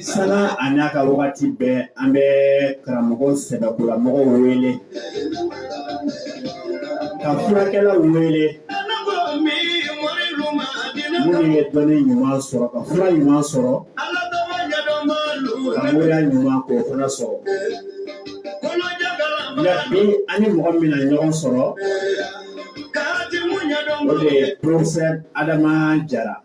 Sanga a n'a ka wagati bɛɛ an bɛ karamɔgɔ sɛbɛkolamɔgɔw wele ka furakɛlaw wele minnu ye dɔnni ɲuman sɔrɔ ka fura ɲuman sɔrɔ ka moriya ɲuman k'o fana sɔrɔ nka bi an ni mɔgɔ min na ɲɔgɔn sɔrɔ o de ye professeur Adama Jara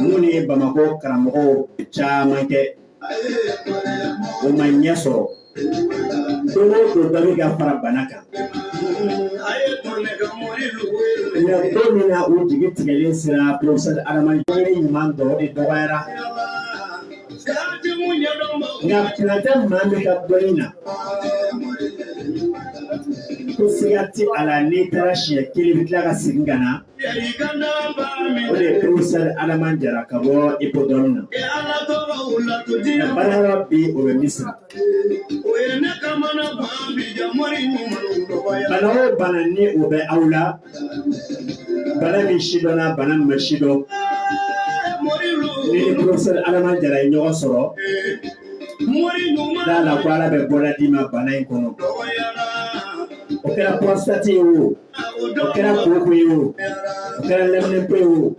minnu ye bamakɔ karamɔgɔ caman kɛ o ma ɲɛ sɔrɔ don o don dɔ bɛ ka fara bana kan nka don min na o jigi tigɛlen sera porofesɛri adama jara yɔrɔ ɲuman dɔ o de dɔgɔyara nka tɛna tɛ maa min ka dɔnni na ko siga tɛ a la n'i taara siɲɛ kelen i bɛ tila ka segin ka na O de ye professeur Adama Jara ka bɔ Hippodrome na. Nka baarayɔrɔ bi o bɛ Misira. Bana o bana ni o bɛ aw la, bana min sidɔnna, bana min ma sidɔn, n'i ni professeur Adama Jara ye ɲɔgɔn sɔrɔ, d'a la ko Ala bɛ bɔda d'i ma bana in kɔnɔ. O kɛra prostate ye o. o kɛra koko ye o o kɛra lɛminɛnpo ye o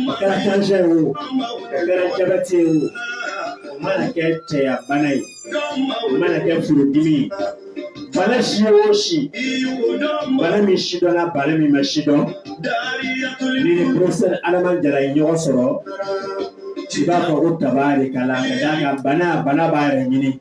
o kɛra tansiyɔn ye o o kɛra jabɛti ye o o mana kɛ cɛya bana ye o mana kɛ furudimi ye bana si o si bana min sidɔnna bana min ma sidɔn n'i ni porofɛsɛri adama jara ye ɲɔgɔn sɔrɔ i b'a fɔ ko tabarikala ka d'a kan bana bana b'a yɛrɛ ɲini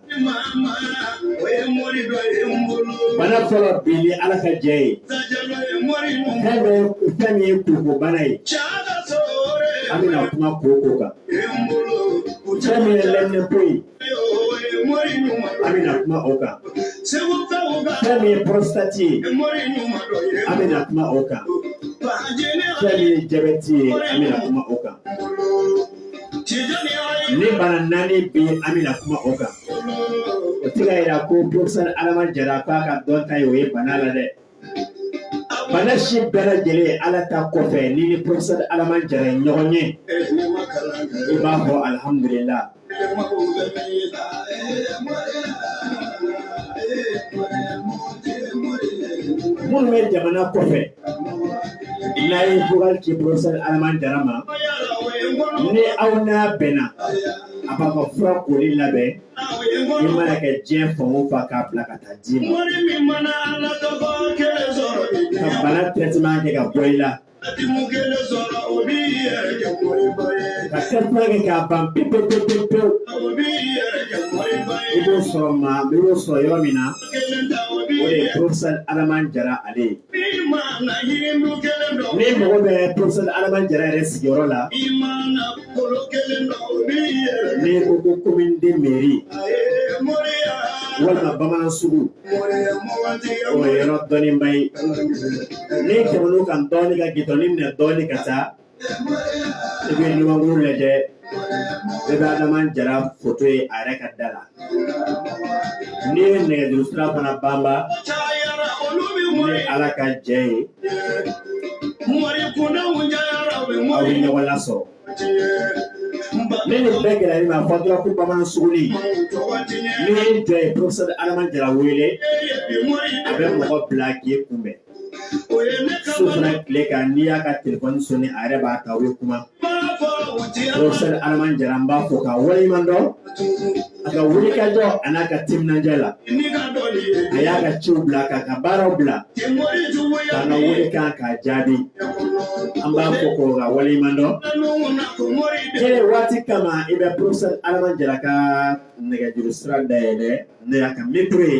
bana fɔlɔ bi ni ala ka jɛ ye fɛn bɛ fɛn min ye koko bana ye an bɛna kuma koko kan fɛn min ye lɛminɛnpo ye an bɛna kuma o kan fɛn min ye pɔrɔsitati ye an bɛna kuma o kan fɛn min ye jabɛti ye an bɛna kuma o kan nin bana naani bɛ yen an bɛna kuma o kan o tɛ ka yira ko professeur Adama Jara k'a ka dɔnta ye o ye bana la dɛ bana si bɛɛ lajɛlen Ala ta kɔfɛ n'i ni professeur Adama Jara ye ɲɔgɔn ye i b'a fɔ alihamudulila. minnu bɛ jamana kɔfɛ N'i ye vocal ci professeur adama jara ma ni aw n'a bɛnna a b'a ka fura colis labɛn i mana kɛ diɲɛ fan o fan k'a bila ka taa d'i ma ka bana traitement kɛ ka bɔ i la ka sɛbɛn kɛ k'a ban pewu pewu pewu pewu i b'o sɔrɔ maa i b'o sɔrɔ yɔrɔ min na o de ye professeur adama jara ale ye. Ni mɔgɔ bɛ professeur adama jara yɛrɛ sigiyɔrɔ laɲini ko ko commune deux mairie walima bamanan sugu o yɔrɔ dɔnniba ye n'i tɛmɛna a kan dɔɔnin ka goudron minɛ dɔɔnin ka taa I bɛ ɲumankuru lajɛ i bɛ adama jara foto ye a yɛrɛ ka da la n'i ye nɛgɛjuru sira fana banbannen ye a la ka jɛya aw bɛ ɲɔgɔn lasɔrɔ ni nin bɛɛ gɛlɛyara i ma a fɔ dɔrɔn ko bamanan suguni n'i y'i jɔ i ye professeur adama jara wele a bɛ mɔgɔ bila k'i kunbɛn su fara tile kan n'i y'a ka telefɔni soni a yɛrɛ b'a ta aw ye kuma professeur adama jara an b'a fo k'a waleɲuman dɔn a ka wulikajɔ a n'a ka timinandiya la a y'a ka ciw bila k'a ka baaraw bila k'an ka welekan k'a jaabi an b'a fo ko k'a waleɲuman dɔn kele waati kama i bɛ professeur adama jara ka nɛgɛjuru sira dayɛlɛ n'o y'a ka nimɔrɔ ye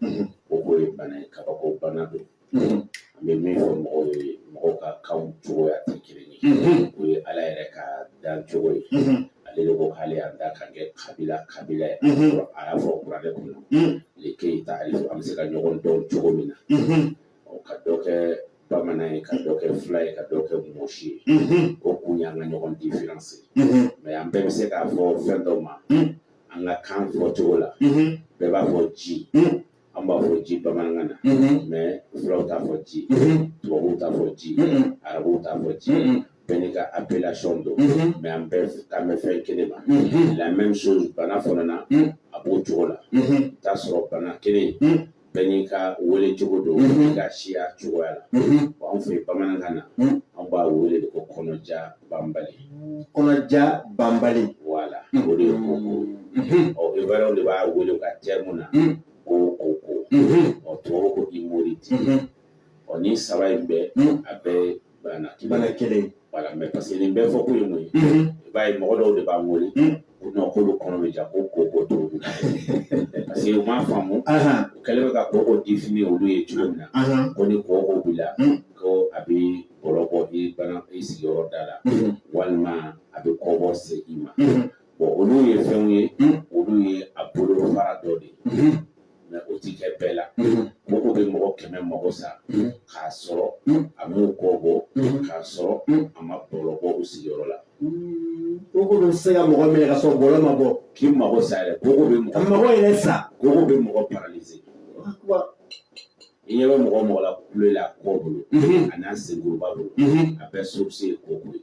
mm-hmm. koko ye bana ye kabako bana don mm-hmm. an bɛ min fɔ mɔgɔw ye mɔgɔw ka kanw cogoya tɛ kelen ye mm-hmm. o ye ala yɛrɛ ka dan cogo ye ale de ko k'ale y'an da ka kɛ kabila kabila ye a y'a fɔ kuranɛ kɔnɔ le keyita ale an bɛ se ka ɲɔgɔn dɔn cogo min na ka dɔ kɛ bamanan ye ka dɔ kɛ fula ye ka dɔ kɛ mɔsi ye o kun y'an ka ɲɔgɔn diferansi mɛ an bɛɛ bɛ se k'a fɔ fɛn dɔ ma an ka kan fɔ cogo la bɛɛ b'a fɔ ji an b'a fɔ ji bamanankan na mɛ fulaw t'a fɔ ji tubabuw t'a fɔ ji arabuw t'a fɔ ji bɛɛ n'i ka appellation don mɛ an bɛɛ kan bɛ fɛn kelen ma la même chose bana fana na a b'o cogo la i t'a sɔrɔ bana kelen Bɛɛ n'i ka wele cogo don bɛɛ n'i ka siya cogoya la bon anw fɛ yen bamanankan na anw b'a wele de ko kɔnɔja banbali kɔnɔja banbali voilà o de ye koko ye ɔ Ivoirienw de b'a wele u ka terme na ko koko ɔ tubabuw ko ko hémorroïde ɔ nin saba in bɛɛ mm. a bɛɛ ye bana bana kelen ye wala mɛ parce que nin bɛɛ fɔ kun ye mun ye mm-hmm. i b'a ye mɔgɔ dɔw de b'an wele mm. ko nɔn k'olu kɔnɔ bɛ ja ko koko t'o min parce que u m'a faamu u kɛlen bɛ ka koko difini olu ye cogo min na ko ni koko b'i la mm. ko a bɛ bɔlɔ bɔ i bana i sigiyɔrɔ da la mm-hmm. walima a bɛ kɔbɔ se i ma mm-hmm. Bon olu ye fɛnw ye olu ye a bolofara dɔ de ye mɛ o ti kɛ bɛɛ la koko bɛ mɔgɔ kɛmɛ mago sa k'a sɔrɔ a m'u kɔ bɔ k'a sɔrɔ a ma bɔlɔ bɔ u sigiyɔrɔ la koko bɛ se ka mɔgɔ minɛ k'a sɔrɔ bɔlɔ ma bɔ k'i mago sa yɛrɛ koko bɛ mɔgɔ mago yɛrɛ sa koko bɛ mɔgɔ paralize i ɲɛ bɛ mɔgɔ o mɔgɔ la kule la kɔ bolo a n'a senkuruba bolo a bɛɛ source ye koko ye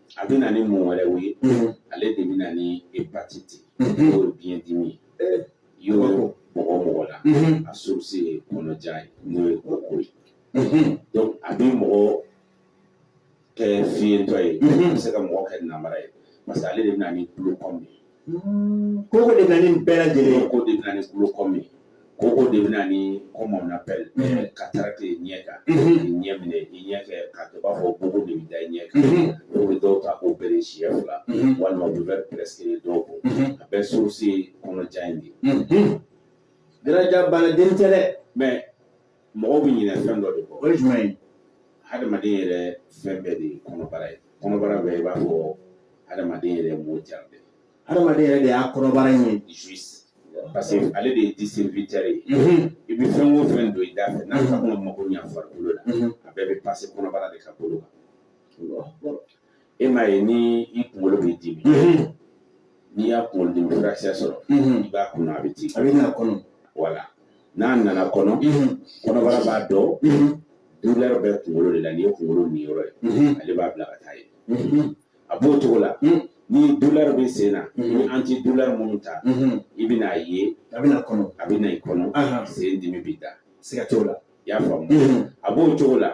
a bɛ na ni mun wɛrɛw ye ale de bɛ na ni hepatiti n'o ye biyɛn dimi ye yɔrɔ mɔgɔ o mɔgɔ la a source ye kɔnɔja ye n'o ye koko ye donc a bɛ mɔgɔ kɛ fiyentɔ ye a bɛ se ka mɔgɔ kɛ nambara ye parce que ale de bɛ na ni kulokɔmi ye Koko de bɛna nin bɛɛ lajɛlen ye. Koko de bɛna ni kulokɔmi ye. Koko de bɛna ni comme on appelle cataracte ye ɲɛ kan. K'i ɲɛ minɛ i ɲɛ kɛ k'a kɛ i b'a fɔ bugu de bɛ da i ɲɛ kan. U bɛ dɔw ta k'u opere siɲɛ fila walima u bɛ verre prescrit dɔw kun. A bɛɛ source ye kɔnɔja in de ye. Jalaja bana dennin tɛ dɛ mais mɔgɔw bɛ ɲinɛ fɛn dɔ de kɔ o ye jumɛn ye hadamaden yɛrɛ fɛn bɛɛ de ye kɔnɔbara ye kɔnɔbara ye i b'a fɔ hadamaden yɛrɛ m'o jari de hadamaden yɛrɛ de y'a kɔnɔbara in ye juste parce que ale de ye distributɛri ye i bɛ fɛn o fɛn don i da fɛ n'a fɔ kɔnɔ mago ɲɛ farikolo la a bɛɛ bɛ pase kɔnɔbara de ka bolo kan e m'a ye ni i kunkolo bɛ dimi n'i y'a kunkolo dimi furakisɛ sɔrɔ i b'a kunu a bɛ ci a bɛ na kɔnɔ wala n'a nana kɔnɔ kɔnɔbara b'a dɔn douleur bɛ kunkolo de la nin ye kunkolo niyɔrɔ ye ale b'a bila ka taa ye a b'o cogo la ni douleur bɛ sen na ni anti douleur minnu ta i bɛna a ye a bɛna kɔnɔ a bɛna i kɔnɔ sen dimi bɛ da siga t'o la i y'a faamu a b'o cogo la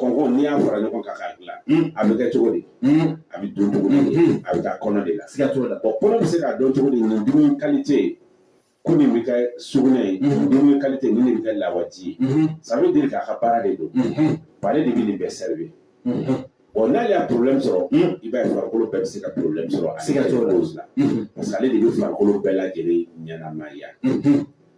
Kɔnko n'i y'a fara ɲɔgɔn kan k'a dilan a bɛ kɛ cogo di a bɛ dun cogo a bɛ taa kɔnɔ de la siga t'o la kɔnɔ bɛ se k'a dɔn cogo di nin dumuni kalite ye ko nin bɛ kɛ sugunɛ ye dumuni kalite nin de bɛ kɛ lawaji ye sabu deli k'a ka baara de don ale de bɛ nin bɛɛ servi bon n'ale ye problème sɔrɔ i b'a ye farikolo bɛɛ bɛ se ka problème sɔrɔ a siga t'o la parce que ale de bɛ farikolo bɛɛ lajɛlen ɲɛnamaya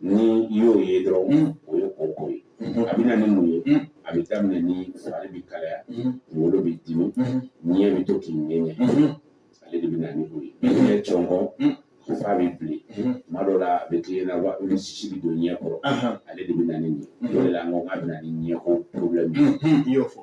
ni i y'o ye dɔrɔn o ye koko ye a bɛ na ni mun ye a bɛ daminɛ ni fari bɛ kalaya kunkolo bɛ dimi ɲɛ bɛ to k'i ɲɛɲɛ ale de bɛ na ni o ye ɲɛ cɔngɔn f'a bɛ bilen tuma dɔw la a bɛ k'i ɲɛ na wa ni sisi bɛ don ɲɛ kɔrɔ ale de bɛ na ni nin ye o de la an ko k'a bɛ na ni ɲɛko porobilɛmu ye i y'o fɔ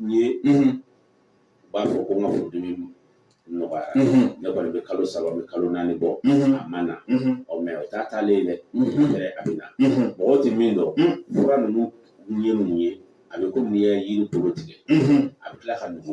n ye n b'a fɔ ko n ka furudimi nɔgɔyara ne kɔni bɛ kalo saba bɛ kalo naani bɔ a ma na ɔ mɛ o t'a taalen dɛ yɛrɛ a bɛ na mɔgɔ tɛ min dɔn fura ninnu ye mun ye a bɛ komi n'i ye yiri bolo tigɛ a bɛ tila ka nugu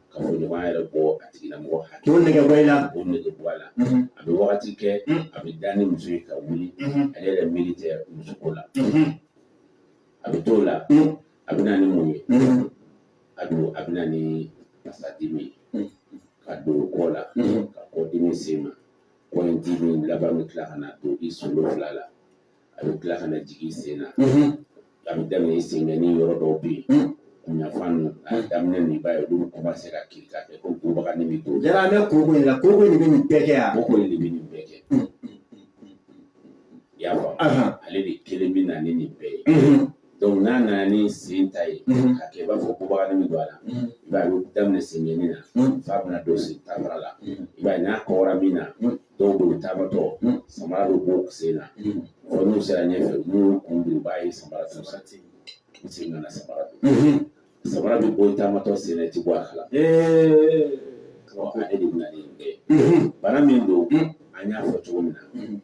kafoɲɔgɔnya yɛrɛ bɔ a tigi la mɔgɔ hakɛ k'o nege bɔ i la k'o nege bɔ a la a bɛ wagati kɛ a bɛ da ni muso ye ka wuli ale yɛrɛ miiri tɛ muso ko la a bɛ t'o la a bɛ na ni mun ye a bɛ a bɛ na ni fasadimi ye ka don kɔ la ka kɔdimi se i ma kɔ in dimi laban bɛ tila ka na don i solo fila la a bɛ tila ka na jigin i sen na a bɛ daminɛ i senkɔni yɔrɔ dɔw bɛ yen kunɲafan ninnu a daminɛ ninnu i b'a ye olu kuma se ka kirin ka kɛ ko ko baganin bɛ don a la an bɛ koko in la koko in de bɛ nin bɛɛ kɛ yan koko in de bɛ nin bɛɛ kɛ i y'a faamu Ahan. ale de kelen bɛ na ni nin bɛɛ ye donc n'a nana ni sen ta ye Mhm. ka kɛ i b'a fɔ ko baganin bɛ don a la Mhm. i b'a ye a bɛ daminɛ senkɔni na Mhm. f'a bɛna don sen ta fara la Mhm. i b'a ye n'a kɔgɔra min na Mhm. dɔw bolo taamatɔ samara bɛ bɔ u sen na ɔ n'u sera ɲɛfɛ n'u y'u kɔ don u b'a ye samara t'u sa ten u sen nana samara don samara bɛ bɔ taamatɔ sen na i ti bɔ a kala ma ale de bɛna ni nin bɛɛ ye bana min don an y'a fɔ cogo min na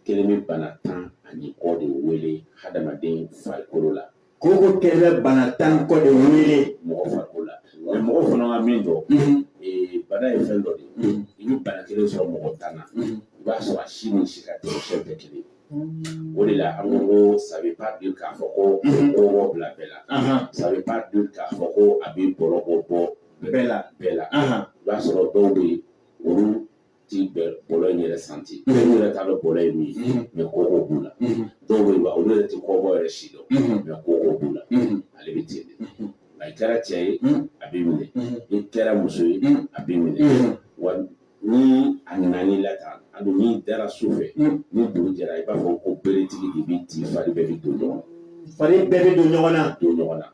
kelen bɛ bana tan ani kɔ de wele hadamaden farikolo la Koko kelen bana tan kɔ de wele mɔgɔ farikolo la mɛ mɔgɔ fana ma min dɔn bana ye fɛn dɔ de ye i bɛ bana kelen sɔrɔ mɔgɔ tan na i b'a sɔrɔ a si ni si ka tɛ fɛn bɛɛ kelen o de la an ko ko ça veut pas dire k'a fɔ ko mɔgɔ bila bɛɛ la ça veut pas dire k'a fɔ ko a bɛ bɔlɔ bɔ bɔ bɛɛ la bɛɛ la i b'a sɔrɔ dɔw bɛ yen olu ti bɔlɔ in yɛrɛ santi olu yɛrɛ t'a dɔn bɔlɔ ye min ye mɛ koko b'u la dɔw bɛ yen olu yɛrɛ tɛ kɔbɔ yɛrɛ sidɔn mɛ koko b'u la ale bɛ ten de nka i kɛra cɛ ye a b'i minɛ i kɛra muso ye a b'i minɛ wa ni a nana i la tan a don n'i dara su fɛ ni dugu jɛra i b'a fɔ ko beretigi de b'i ci fari bɛɛ bɛ don ɲɔgɔn na fari bɛɛ bɛ don ɲɔgɔn na don ɲɔgɔn na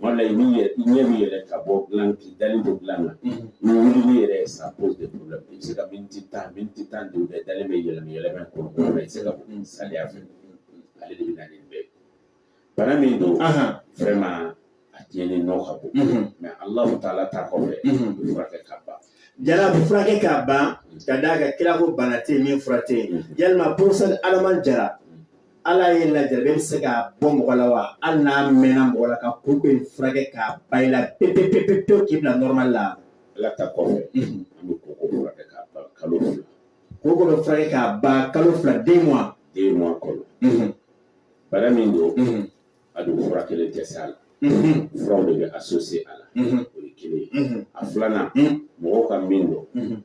wala i ɲɛ b'i yɛrɛ ka bɔ dilan k'i dalen don dilan na ni wulili yɛrɛ ye ça pose de problème i bɛ se ka miniti tan miniti tan duuru kɛ e dalen bɛ yɛlɛma yɛlɛma kɔnɔ kɔnɔ i tɛ se ka bɔ salaya fɛ ale de bɛ na ni bɛɛ bana min don vraiment a tiɲɛni nɔ ka bon mɛ alahu taala ta kɔfɛ a bɛ furakɛ ka ban jara a bɛ furakɛ ka ban ka d'a kan kira ko bana tɛ yen min fura tɛ yen yalima porofesɛri alama jara Ala ye lajɛ bɛ se ka bɔ mɔgɔ la wa hali n'a mɛnna mɔgɔ la koko bɛ furakɛ ka ban i la pe pe pe pe pe k'i bila nɔrɔma la ala ta kɔfɛ koko bɛ furakɛ ka ban kalo fila deux mois de kɔnɔ bana min don a don fura kelen tɛ se a la furaw de bɛ associer a la o ye kelen ye a filanan mɔgɔw ka min dɔn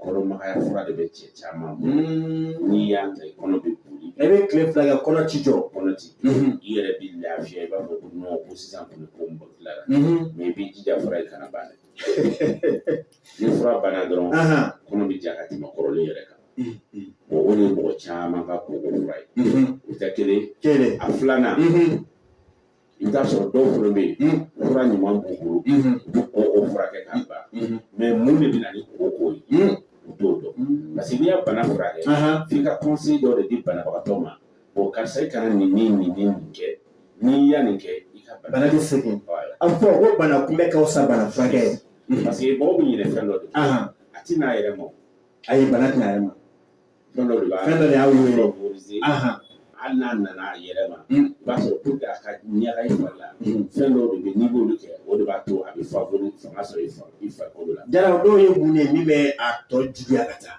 kɔnɔmagaya fura de bɛ cɛ caman bolo n'i y'a ta i kɔnɔ bɛ boli e bɛ tile fila kɛ kɔnɔ t'i jɔ kɔnɔ t'i i yɛrɛ b'i lafiya i b'a fɔ ko ko sisan kɔni ko n bɔ tila la mɛ i b'i jija fura in kana ban dɛ Ni fura banna dɔrɔn kɔnɔ bɛ ja ka tɛmɛ kɔrɔlen yɛrɛ kan bon o de ye mɔgɔ caman ka koko fura ye o ye kelen ye a filanan i bɛ t'a sɔrɔ dɔw fana bɛ yen fura ɲuman b'u bolo u bɛ koko furakɛ k'a ban mɛ mun de bɛ na ni koko ko ye u t'o dɔn parce que n'i ye bana furakɛ f'i ka conseil dɔ de di banabagatɔ ma bon karisa i kana nin nin nin nin kɛ n'i ye nin kɛ i ka bana bɛ segin a bɛ fɔ ko bana kunbɛn ka fisa bana furakɛ ye Mhm. Parce que mɔgɔ bɛ ɲinɛ fɛn dɔ de la. Ahan. A tɛ n'a yɛrɛ ma. Ayi bana tɛ na a yɛrɛ ma. Fɛn dɔ de b'a Fɛn dɔ de y'a wele. favoriser. Ahan. Hali n'a nana a yɛrɛ ma. Mm. I b'a sɔrɔ pour que a ka ɲaga i fari la. Mhm. Fɛn dɔw de bɛ n'i b'olu kɛ o de b'a to a bɛ favori fanga sɔrɔ i fa- i farikolo la. Jara o dɔw ye mun de ye min bɛ a tɔ juguya ka taa?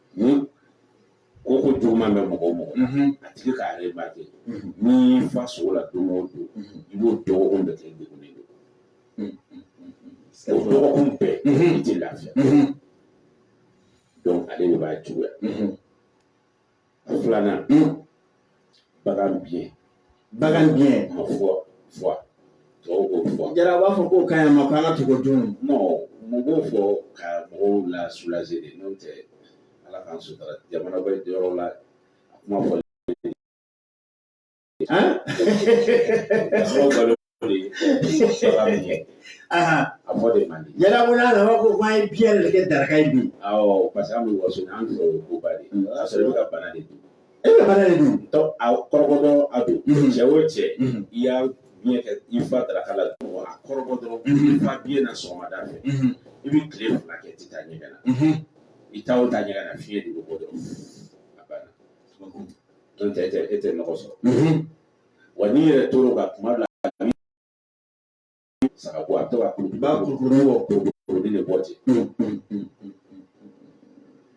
Ni koko juguman bɛ mɔgɔ o mɔgɔ la, unhun, a tigi k'a remarquer unhun, n'i y'i fa sogo la don o don, unhun, i b'o dɔgɔkun bɛɛ kɛ i degunnen don, unhun, o dɔgɔkun bɛɛ, unhun, i tɛ lafiya, unhun, donc ale de b'a juguya, unhun, a filanan, unhun, bagan biɲɛ bagan biɲɛ ma fɔ fɔ tɔw b'o fɔ jara b'a fɔ k'o ka ɲi an ma ko an ka to k'o dun mun b'o fɔ ka mɔgɔw lasulaze dɛ n'o tɛ ala k'an sutura jamana bɛ yɔrɔ la a kuma fɔ Aha. A bɔ de man di. Yala ko n'a nana ko k'an ye biɲɛ de kɛ daraka ye bi. Awɔ parce que an bɛ waso an fɛ o koba de. A sɔrɔ i bɛ ka bana de dun. E bɛ bana de dun. Taa a kɔrɔbɔ dɔrɔn a don. Cɛ o cɛ. I ye biɲɛ kɛ i fa daraka la. A kɔrɔbɔ dɔrɔn. I fa biɲɛ na sɔgɔmada fɛ. I bɛ tile fila kɛ i tɛ taa ɲɛgɛn na. I taa o taa ɲɛgɛn na fiɲɛ de bɛ bɔ dɔrɔn. A banna. N'o tɛ e tɛ e tɛ nɔgɔ sɔrɔ. wa n'i yɛrɛ tɔɔrɔ ka kuma bila saga bɔ a bɛ to ka kuru ba kuru kuru bɔ kuru kuru de bɔ ten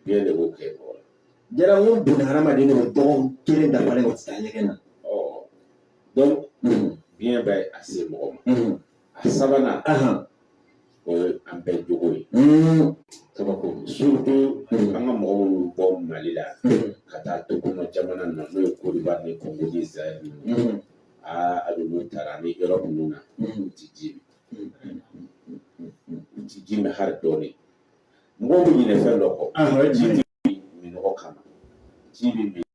biyɛn de b'o kɛ mɔgɔ la jara n ko boli hadamaden de bɛ dɔgɔkun kelen dafalen o tɛ taa ɲɛgɛn na ɔ donc biyɛn b'a se mɔgɔ ma A sabanan o ye an bɛɛ jogo ye kaba an ka mɔgɔw bɔ mali la ka taa tunga jamana na n'o ye kɔdiwari ni kongo zayiri aa a bɛ taara ni yɔrɔ minnu na tɛ ji tɛ ji bɛ hali dɔɔnin mɔgɔw bɛ ɲinɛ fɛn dɔ kɔ ji minnɔgɔ kama ji bɛ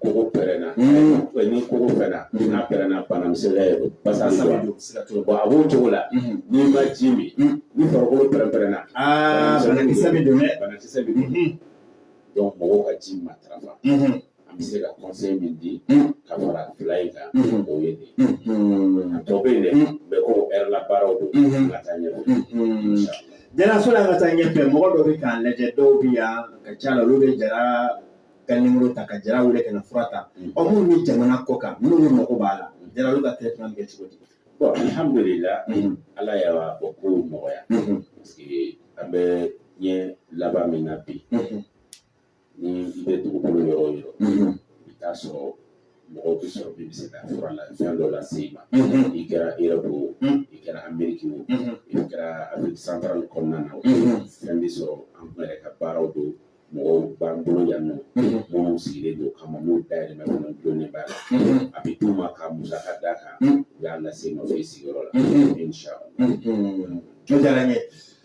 kogo pɛrɛnna ni kogo pɛrɛnna n'a pɛrɛnna bana misɛnya ye basa sa bɛ don bɔn a b'o cogo la n'i ma ji min ni farikolo pɛrɛn-pɛrɛnna banakisɛ bɛ don dɛ banakisɛ bɛ don donc mɔgɔw ka ji matarafa an bɛ se ka conseil min di ka fara fila in kan o ye nin a tɔ bɛ yen dɛ mais ko ɛri la baaraw don ka taa ɲɛ jɛnɛso la ka taa ɲɛfɛ mɔgɔ dɔ bɛ k'an lajɛ dɔw bɛ yan ka ca la olu bɛ jara ka nimɔrɔ ta ka jara wele ka na fura ta mm. ɔ minnu bɛ jamana kɔkan minnu bɛ mɔgɔ b'a la mm. jara olu ka traitement bɛ kɛ cogo di bon alhamdulila mm-hmm. ala y'o ko nɔgɔya mm-hmm. parce que an bɛ ɲɛ laban min na bi mm-hmm. ni i bɛ dugukolo yɔrɔ o yɔrɔ i t'a sɔrɔ mɔgɔw bɛ sɔrɔ min bɛ se ka fura la fɛn dɔ lase i ma i kɛra erɔpu o i kɛra ameriki o i kɛra afiriki santarali kɔnɔna na o fɛn bɛ sɔrɔ an yɛrɛ ka baaraw don mɔgɔw b'an bolo yan nɔ minnu sigilen don o kama n'u dayɛlɛmɛ kɔnɔ dɔnnen b'a la a bɛ d'u ma ka musaka d'a kan u y'a lase i ma u ye sigiyɔrɔ la inshallah o diyara n ye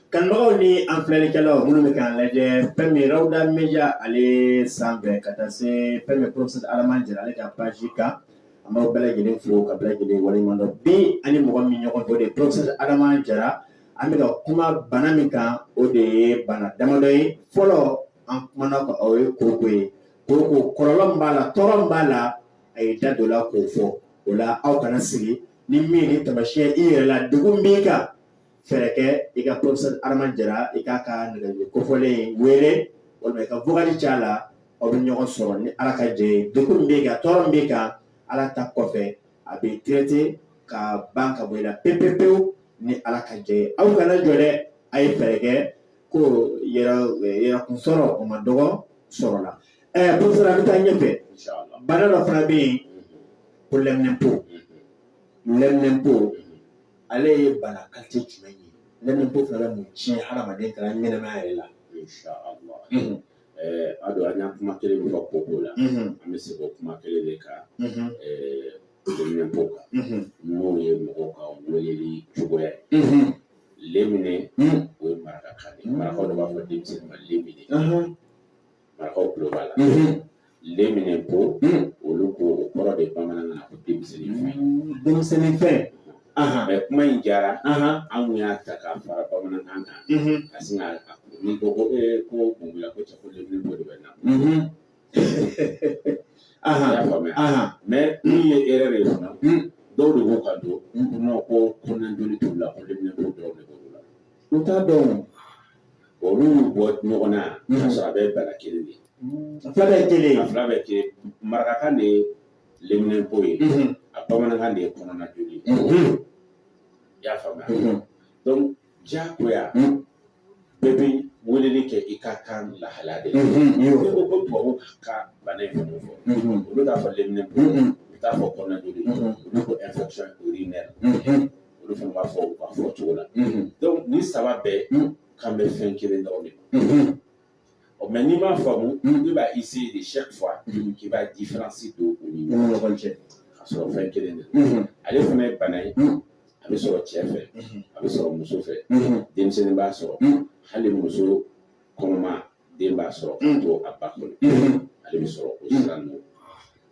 kanubagaw ni an filɛlikɛlaw minnu bɛ k'an lajɛ fɛn min rawuda media ale sanfɛ ka taa se fɛn min professeur adama jara ale ka page kan an b'aw bɛɛ lajɛlen fo ka bɛɛ lajɛlen waleɲuman dɔn bi ani mɔgɔ min ɲɔgɔn to de professeur adama jara an bɛna kuma bana min kan o de ye bana damadɔ ye fɔlɔ an kumana ka o ye kooko ye kooko kɔlɔlɔ min b'a la tɔɔrɔ min b'a la a ye da don o la k'o fɔ o la aw kana sigi ni min ni tamasiyɛn i yɛrɛ la degun b'i kan fɛɛrɛ kɛ i ka professeur Adama Jara i k'a ka nɛgɛjuru kofɔlen in wele walima i ka vokali ci a la aw bɛ ɲɔgɔn sɔrɔ ni Ala ka jɛn ye degun min b'i kan tɔɔrɔ min b'i kan Ala ta kɔfɛ a bɛ traité ka ban ka bɔ i la pewu pewu pewu ni Ala ka jɛn ye aw kana jɔ dɛ a ye fɛɛrɛ kɛ k'aw yɛrɛ yɛrɛ kun sɔrɔ o man dɔgɔ sɔrɔ la ɛ professeur an bɛ taa ɲɛfɛ bana dɔ fana bɛ yen ko lɛminɛnpo lɛminɛnpo ale ye bana kalite jumɛn ye lɛminɛnpo fana bɛ mun tiɲɛ hadamaden ka ɲɛnamaya yɛrɛ la. a don an y'a kuma kelen min fɔ ko ko la an bɛ segin o kuma kelen de kan leminɛnpo kan n'o ye mɔgɔw ka weleli cogoya ye lemine o ye marakakan de marakaw de b'a fɔ denmisɛnnin ma lemine marakaw tulo b'a la leminɛnpo olu ko o kɔrɔ de bamanankan na ko denmisɛnnin fɛn denmisɛnnin fɛn mais kuma in jara an kun y'a ta k'a fara bamanankan kan ka sin ka ni ko ko e ko kungiya ko cɛ ko de bɛ na y'a faamuya mɛ min ye e yɛrɛ de ye fana dɔw de ko ka don n'o ko kɔnɔna joli t'u la ko leminɛnpo dɔw de b'u la u t'a dɔn olu y'u bɔ ɲɔgɔn na yan k'a sɔrɔ a bɛɛ bana kelen de ye fila bɛɛ kelen fila bɛɛ kelen marakakan de ye leminɛnpo ye a bamanankan de ye kɔnɔna joli ye i y'a faamuya donc diyagoya bɛɛ bɛ weleli kɛ i ka kan lahala de la n'i ko ko tubabu ka bana in fɛn fɔ olu t'a fɔ leminɛnpo u t'a fɔ kɔnɔna joli olu ko infection urinaire olu fana b'a fɔ u ka fɔ cogo la donc nin saba bɛɛ kan bɛ fɛn kelen dɔrɔn de ma ɔ mais n'i m'a faamu i b'a essayer de chaque fois k'i b'a différence don u ni ɲɔgɔn cɛ ka sɔrɔ fɛn kelen de don ale fana ye bana ye a bɛ sɔrɔ cɛ fɛ a bɛ sɔrɔ muso fɛ denmisɛnnin b'a sɔrɔ hali muso kɔnɔma den b'a sɔrɔ ka to a ba kɔnɔ ale bɛ sɔrɔ o sira ninnu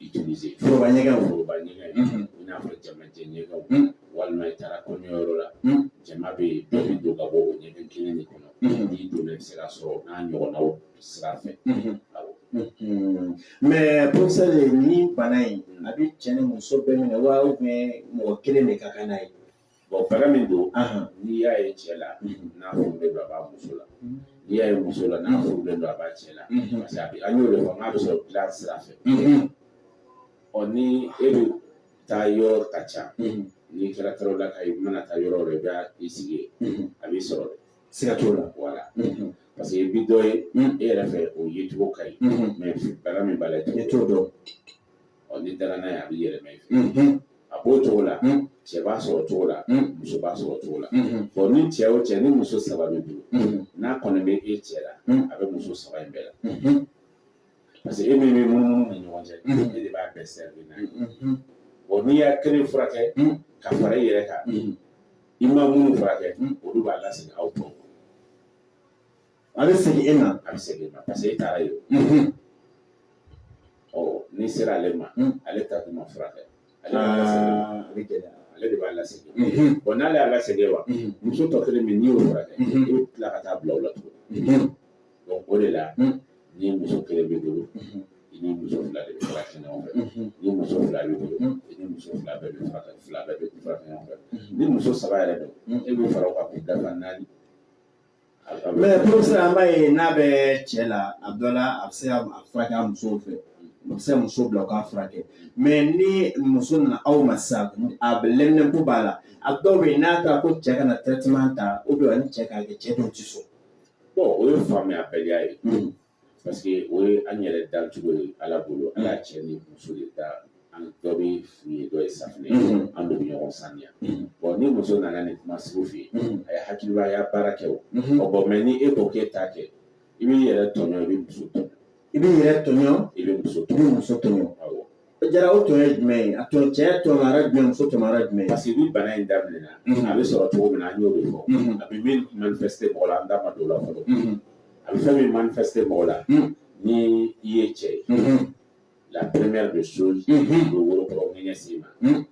utiliser foroba ɲɛgɛn o foroba ɲɛgɛn i n'a fɔ jamajɛ ɲɛgɛnw walima i taara kɔɲɔyɔrɔ la jama bɛ yen dɔ bɛ don ka bɔ o ɲɛgɛn kelen de kɔnɔ n'i donna i bɛ se k'a sɔrɔ nin ɲɔgɔnnaw sira fɛ awɔ mais professeur nin bana in a bɛ cɛ ni muso bɛɛ minɛ wa mɔgɔ kelen de ka kan n'a ye Bon bana min don n'i y'a ye cɛ la n'a furulen don a b'a muso la n'i y'a ye muso la n'a furulen don a b'a cɛ la parce que a bɛ an y'o de fɔ n'a bɛ sɔrɔ dilan sira fɛ ɔ ni e de taayɔrɔ ka ca n'i kɛra tarawelelaka i mana taa yɔrɔ yɔrɔ i bɛ i sigi yen a b'i sɔrɔ dɛ siga t'o la wala parce que i bi dɔ ye e yɛrɛ fɛ o yecogo ka ɲi mais bana min b'a la i t'o dɔn ɔ n'i dara n'a ye a bɛ yɛlɛma i fɛ a b'o cogo la cɛ b'a sɔrɔ cogo la muso b'a sɔrɔ cogo la ɔ ni cɛ o cɛ ni muso saba b'i bolo n'a kɔni bɛ e cɛ la a bɛ muso saba in bɛɛ la parce que e min bɛ munumunu u ni ɲɔgɔn cɛ e de b'a bɛɛ servir n'a ye ɔ n'i y'a kelen furakɛ ka fara i yɛrɛ kan i ma minnu furakɛ olu b'a lasegin aw tɔw A bɛ segin e ma a bɛ segin e ma parce que e taara yen ɔ n'i sera ale ma ale ta kun ma furakɛ ale ale de b'a lase bɔn n'ale y'a lase wa muso tɔ kelen min n'i y'o furakɛ i bɛ tila ka taa bila o la tuguni donc o de la ni muso kelen b'i bolo i ni muso fila de bɛ furakɛ ɲɔgɔn fɛ ni muso fila b'i bolo i ni muso fila bɛɛ bɛ furakɛ fila bɛɛ bɛ furakɛ ɲɔgɔn fɛ ni muso saba yɛrɛ don e bɛ fara o kan k'i da naani mɛ professeur an b'a ye n'a bɛ cɛ la a dɔ la a bɛ se ka a furakɛ a muso fɛ a bɛ se ka muso bila u k'a furakɛ mɛ ni muso nana aw ma sisan a bɛ lɛminɛnpo b'a la a dɔw bɛ yen n'a taara ko cɛ ka na traitement ta ou bien a ni cɛ k'a kɛ cɛ dɔw tɛ sɔn o ye faamuyabaliya ye parce que o ye an yɛrɛ dancogo ye ala bolo ala y'an cɛ ni muso de da an dɔ bɛ fu ye dɔ ye safunɛ ye Mhm. an bɛ ɲɔgɔn saniya Mhm. bɔn ni muso nana nin kuma sugu f'i ye Mhm. a ye hakilimaya baara kɛ o Mhm. ɔ bɔn mɛ ni e ko k'e t'a kɛ i b'i yɛrɛ tɔɲɔ i bɛ muso tɔɲɔ i b'i yɛrɛ tɔɲɔ i bɛ muso i bɛ tɔɲɔ muso tɔɲɔ awɔ Jara o tɔɲɔ ye jumɛn ye a tɔɲɔ cɛ y'a tɔɲɔ yɔrɔ jumɛn muso tɔɲɔ yɔrɔ jumɛn parce que ni bana in daminɛna a bɛ sɔrɔ cogo min na an y'o de fɔ a bɛ min manifeste mɔgɔ la an da ma don o la fɔlɔ a bɛ fɛn min manifeste mɔgɔ la ni i ye cɛ ye la première des choses o bɛ woro kɔrɔ ŋɛɲɛ s'i ma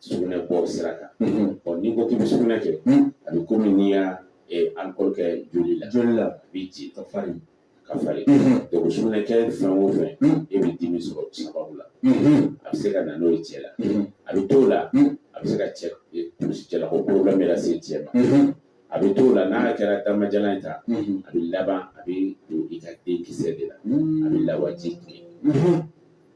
sugunɛ bɔ sira kan ɔ n'i ko k'i bɛ sugunɛ kɛ a bɛ komi n'i ye alikɔli kɛ joli la joli la a b'i ci ka farin ka farin donc sugunɛ kɛ fɛn o fɛn e bɛ dimi sɔrɔ sababu la a bɛ se ka na n'o ye cɛ la a bɛ t'o la a bɛ se ka cɛ kulusijala ko problème yɛrɛ se cɛ ma a bɛ t'o la n'a kɛra damajalan in ta a bɛ laban a bɛ don i ka denkisɛ de la a bɛ lawaji tiɲɛ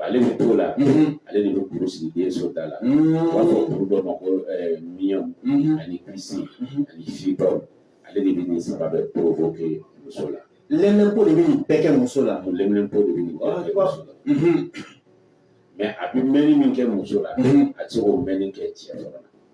ale bɛ t'o la ale de bɛ kuru sigi denso da la u b'a fɔ kuru dɔ ma ko myome ani kyste ani fibrome ale de bɛ nin saba bɛɛ provoquer muso la lɛminɛnpo de bɛ nin bɛɛ kɛ muso la lɛminɛnpo de bɛ nin bɛɛ kɛ muso la mɛ a bɛ mɛnni min kɛ muso la a tɛ se k'o mɛnni kɛ cɛ dɔrɔn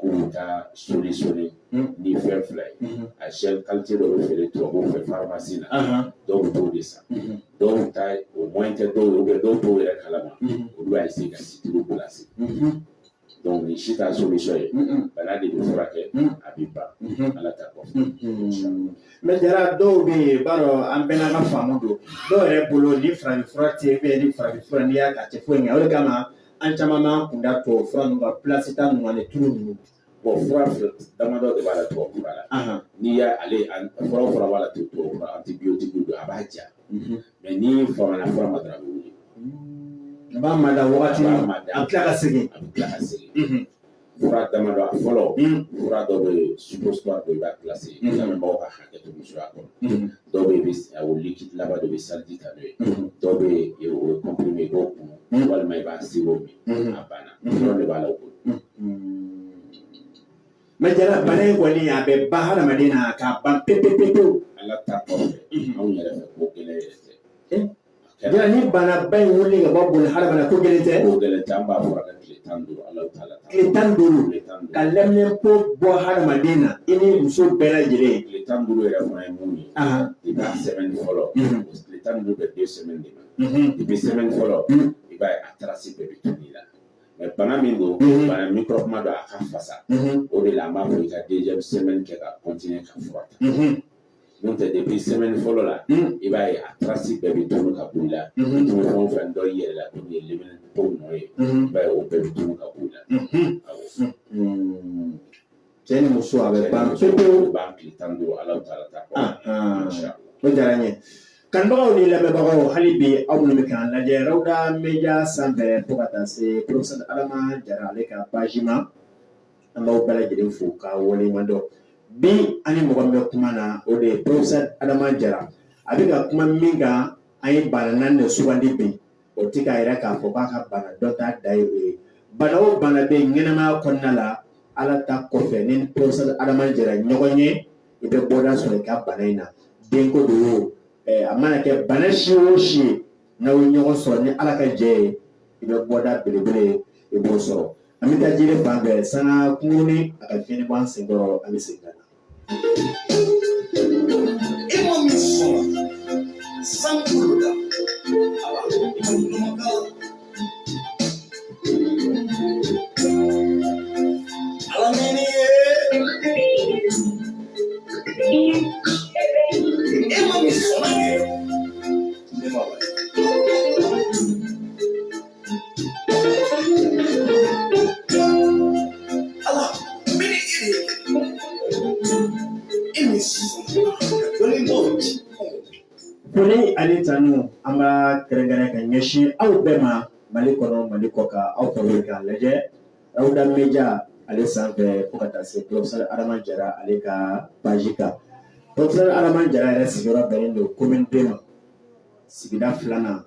ko taa soli soli ni fɛn fila ye a sɛ kalite dɔ bɛ feere tubabu fɛ farimasi na dɔw t'o de san dɔw ta o mɔ tɛ dɔw ye bɛ dɔw t'o yɛrɛ kalama olu bɛ se ka situlu placer donc nin si t'a solution ye bana de bɛ furakɛ a bɛ ban ala ta kɔfɛ mɛ jara dɔw bɛ yen i b'a dɔn an bɛɛ n'an ka faamu don dɔw yɛrɛ bolo ni farafinfura tɛ yen ni farafinfura n'i y'a ta a tɛ foyi ɲɛ o de kama an caman b'an kun da tubabu fura ninnu kan placer ta ninnu ani tulu ninnu bɔn fura fura damadɔ de b'a la tubabu fura la Ahan. n'i y'a lajɛ a- fura o fura b'a la tu- tubabu fura antibiyotiki don a b'a ja Mhm. mɛ n'i famana fura ma dɔrɔn a bɛ wuli N b'a mada wagati A b'a min mada. a bɛ tila ka segin a bɛ tila ka segin Mhm. fura damadɔ a fɔlɔ fura dɔ bɛ yen supositɔri don i b'a kilasi lamɛnbaaw ka hakɛ to musoya kɔnɔ dɔw bɛ yen bɛ a o likidilama don i bɛ saliji ta n'o ye dɔw bɛ yen o ye kɔnpirime i b'o kunu walima i b'a siro min a banna dɔrɔn de b'a la o bolo mɛ jara bana in kɔni a bɛ ban hadamaden na k'a ban pepepepewu ala ta kɔfɛ anw yɛrɛ fɛ ko gɛlɛya yɛrɛ tɛ Yala ni banaba in wuli ka bɔ boli ha bɛ ko gɛlɛn tɛ ko gɛlɛn tɛ an b'a fɔ ka tile tan duuru ala ta la tile tan duuru ka leminanpo bɔ hadamaden na i ni muso bɛɛ lajɛlen tile tan duuru yɛrɛ fana ye mun ye i b'a sɛmɛni fɔlɔ tile tan duuru bɛ de sɛmɛni de ma i bɛ sɛmɛni fɔlɔ i b'a ye a tarasi bɛɛ bɛ tunu i la mɛ bana min don bana mikɔrɔbuma don a ka fasa o de la an b'a fɔ i ka deziyɛmu sɛmɛni kɛ ka kɔntine ka fura ta n'o tɛ depi sɛmɛni fɔlɔ la i b'a ye a tarasi bɛɛ bɛ tunu ka b'i la i tun bɛ fɛn o fɛn dɔn i yɛrɛ la tun ye leminanpo nɔ ye i b'a ye o bɛɛ bɛ tunu ka b'i la cɛ ni muso a bɛ ban pewu pewu ban tile tan ni duuru ala ta ala ta kɔ o diyara n ye kanubagaw ni lamɛnbagaw hali bi aw minnu bɛ k'an lajɛ rawuda media sanfɛ fo ka taa se profesɛr adama jara ale ka paji ma an b'aw bɛɛ lajɛlen fo ka waleɲuman dɔn bi an ni mɔgɔ min bɛ kuma na o de ye professeur Adama Jara a bɛ ka kuma min kan an ye bana naani de sugandi bi o tɛ k'a yira k'a fɔ k'a ka bana dɔnta dan ye o ye bana o bana bɛ yen ɲɛnamaya kɔnɔna la ala ta kɔfɛ ni professeur Adama Jara ɲɔgɔn ye i bɛ bɔda sɔrɔ i ka bana in na denko don o eh, a mana kɛ bana si o si ye n'aw ye ɲɔgɔn sɔrɔ ni ala ka jɛn ye i bɛ bɔda belebele ye i b'o sɔrɔ an bɛ taa jiri fan bɛɛ sanga kunkuruni a ka fiɲɛ bɔ an senkɔrɔ an bɛ segin ka na e ma min sɔrɔ san kolo da ala ala mɛni ye e ma min sɔrɔ Foli ani tanu an b'a kɛrɛnkɛrɛn ka ɲɛsin aw bɛɛ ma mali kɔnɔ mali kɔkan aw ka wele k'an lajɛ rawuda media ale sanfɛ fo ka taa se profesɛr adama jara ale ka paji kan profesɛr adama jara yɛrɛ sigiyɔrɔ bɛnnen don komini de ma sigida filanan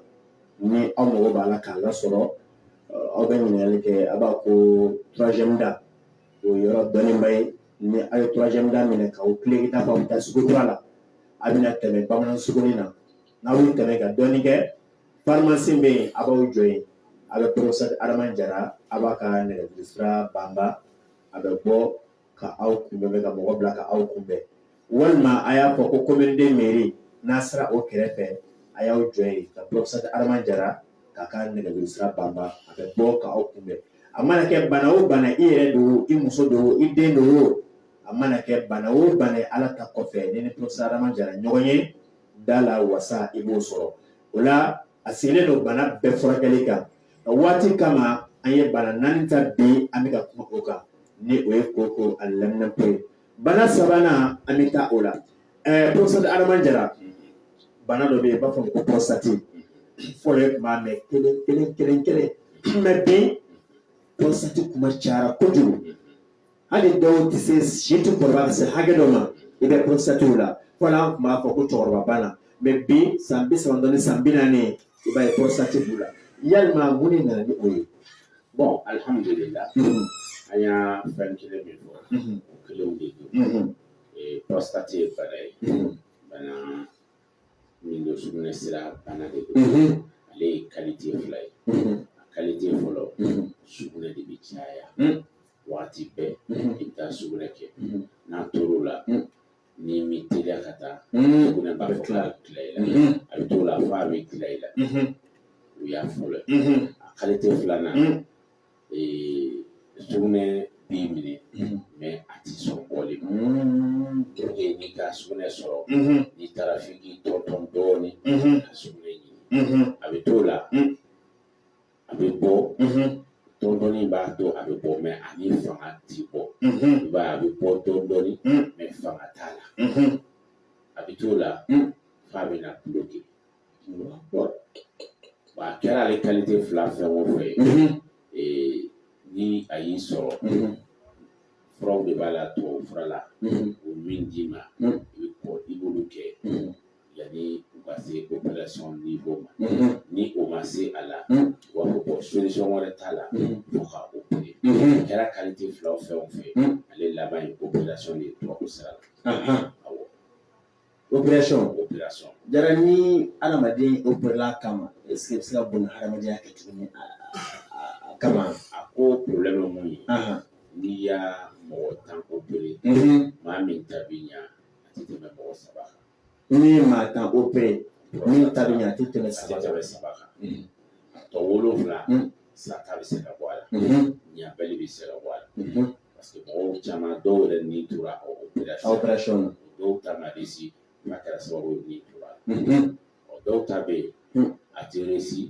ni aw mago b'a la k'ale sɔrɔ aw bɛ ɲininkali kɛ bamakɔ troisième da o yɔrɔ dɔnnenba ye ni aw ye troisième da minɛ k'aw tilen ka taa aw bɛ taa sugu kura la a bɛna tɛmɛ bamanan sugunin na n'aw y'o tɛmɛ ka dɔɔnin kɛ pharmacie bɛ yen a b'aw jɔ yen a bɛ professeur Adama Jara a b'a ka nɛgɛjuru sira banba a bɛ bɔ ka aw kunbɛn ka mɔgɔ bila ka aw kunbɛn walima a y'a fɔ ko commune deux mairie n'aw sera o kɛrɛfɛ a y'aw jɔ yen ka professeur Adama Jara k'a ka nɛgɛjuru sira banba a bɛ bɔ ka aw kunbɛn a mana kɛ bana o bana i yɛrɛ don o i muso don o i den don o a mana kɛ bana o bana ye Ala ta kɔfɛ i ni professeur Adama Jara ɲɔgɔn ye da la wasa i b'o sɔrɔ o la a sigilen don bana bɛɛ furakɛli kan nka waati kama an ye bana naani ta bi an bɛ ka kuma o kan ni o ye koko ani laminɛpo ye bana sabanan an bɛ taa o la ɛɛ professeur Adama Jara bana dɔ bɛ yen i b'a fɔ a ma ko prostate fɔlɔ ye kuma mɛn kelen kelen kelen kelen mɛ bi prostate kuma cayara kojugu hali dɔw tɛ se si tɛ kɔrɔba ka se hakɛ dɔ ma i b'a ye prostate b'u la fɔlɔ an tun b'a fɔ ko cɛkɔrɔba bana mɛ bi san bi saba dɔɔni san bi naani i b'a ye prostate b'u la yalima mun de nana ni o ye bɔn alihamudulila mhm. an y'a fɛn kelen min fɔ mhm. o kelenw de don mhm. prostate ye bana ye bana min don sugunɛ sira bana de don ale ye kalite fila ye a kalite fɔlɔ sugunɛ de bɛ caya waati bɛɛ i bɛ taa sugunɛ kɛ n'a tor'o la n'i ma teliya ka taa sugunɛ b'a fɔ k'a bɛ tila i la a bɛ t'o la f'a bɛ tila i la o y'a fɔlɔ ye a kalite filanan sugunɛ b'i minɛ mɛ a tɛ sɔn bɔli ma n'i ka sugunɛ sɔrɔ n'i taara f'i k'i tɔntɔn dɔɔnin ka sugunɛ ɲini a bɛ t'o la a bɛ bɔ dɔɔni dɔɔni b'a to a bɛ bɔ mɛ a ni fanga ti bɔ ba a bɛ bɔ dɔɔni dɔɔni mɛ fanga t'a la a bɛ t'o la f'a bɛ na bloquer a kɛra ale kalite fila fɛn o fɛn ni a y'i sɔrɔ furaw de b'a la tubabu fura la o min d'i ma i bɛ kɔn i b'olu kɛ yanni u ka se operation niveau ma ni o ma se a la u b'a fɔ ko solution wɛrɛ t'a la fo ka opérer a kɛra qualité fila o fɛn o fɛn ale laban ye operation de ye tubabu sira la awɔ operation professeur Jara ni adamaden operela a kama est ce qu'a bɛ se ka boli hadamadenya kɛ tuguni a kama a ko problème ye mun ye n'i ye mɔgɔ tan opérer maa min ta bɛ ɲa a tɛ tɛmɛ mɔgɔ saba kan n'i ye maa tan opere min ta bɛ ɲɛ a tɛ tɛmɛ saba kan tɛmɛ saba kan mm. a tɔ wolonwula mm. saya bɛ se ka bɔ a la mm-hmm. ɲabali bɛ se ka bɔ a la mm-hmm. parce que mɔgɔw caman dɔw yɛrɛ ni tora o operation na dɔw ta ma réussi n'a kɛra sababu ye ni tora la mm-hmm. ɔ dɔw ta bɛ yen mm. a tɛ réussi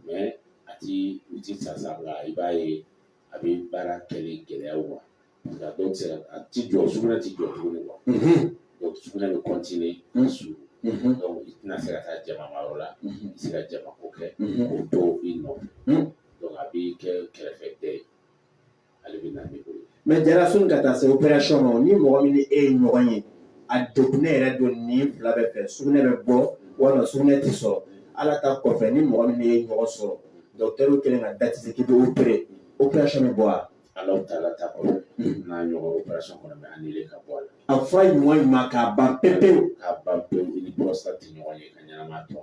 mais a ti u ti sa sa la i b'a ye a bɛ baara kɛli gɛlɛya u ma Nka dɔw tɛ se ka a tɛ jɔ sugunɛ tɛ jɔ tuguni quoi donc sugunɛ bɛ continuer ka suuru donc i tɛna se ka taa jama ma yɔrɔ la i tɛ se ka jama ko kɛ k'o to i nɔ donc a bɛ kɛ kɛrɛfɛ dɛ ye ale bɛ na ni o ye. mais jara sɔnni ka taa se operation ma ni mɔgɔ min ni e ye ɲɔgɔn ye a degunnen yɛrɛ don nin fila bɛɛ fɛ sugunɛ bɛ bɔ walima sugunɛ tɛ sɔrɔ ala ta kɔfɛ ni mɔgɔ min ni e ye ɲɔgɔn sɔrɔ dɔgɔtɛriw kɛlen ka dati sigi k'i bɛ opere operation bɛ bɔ wa. Ala taala ta kɔ n'a ɲɔgɔn operation kɔni bɛ annulé ka bɔ a la, a fura in ɲuman ɲuman k'a ban pewu pewu, k'a ban pewu i ni prostate tɛ ɲɔgɔn ye ka ɲɛnamaya tɔ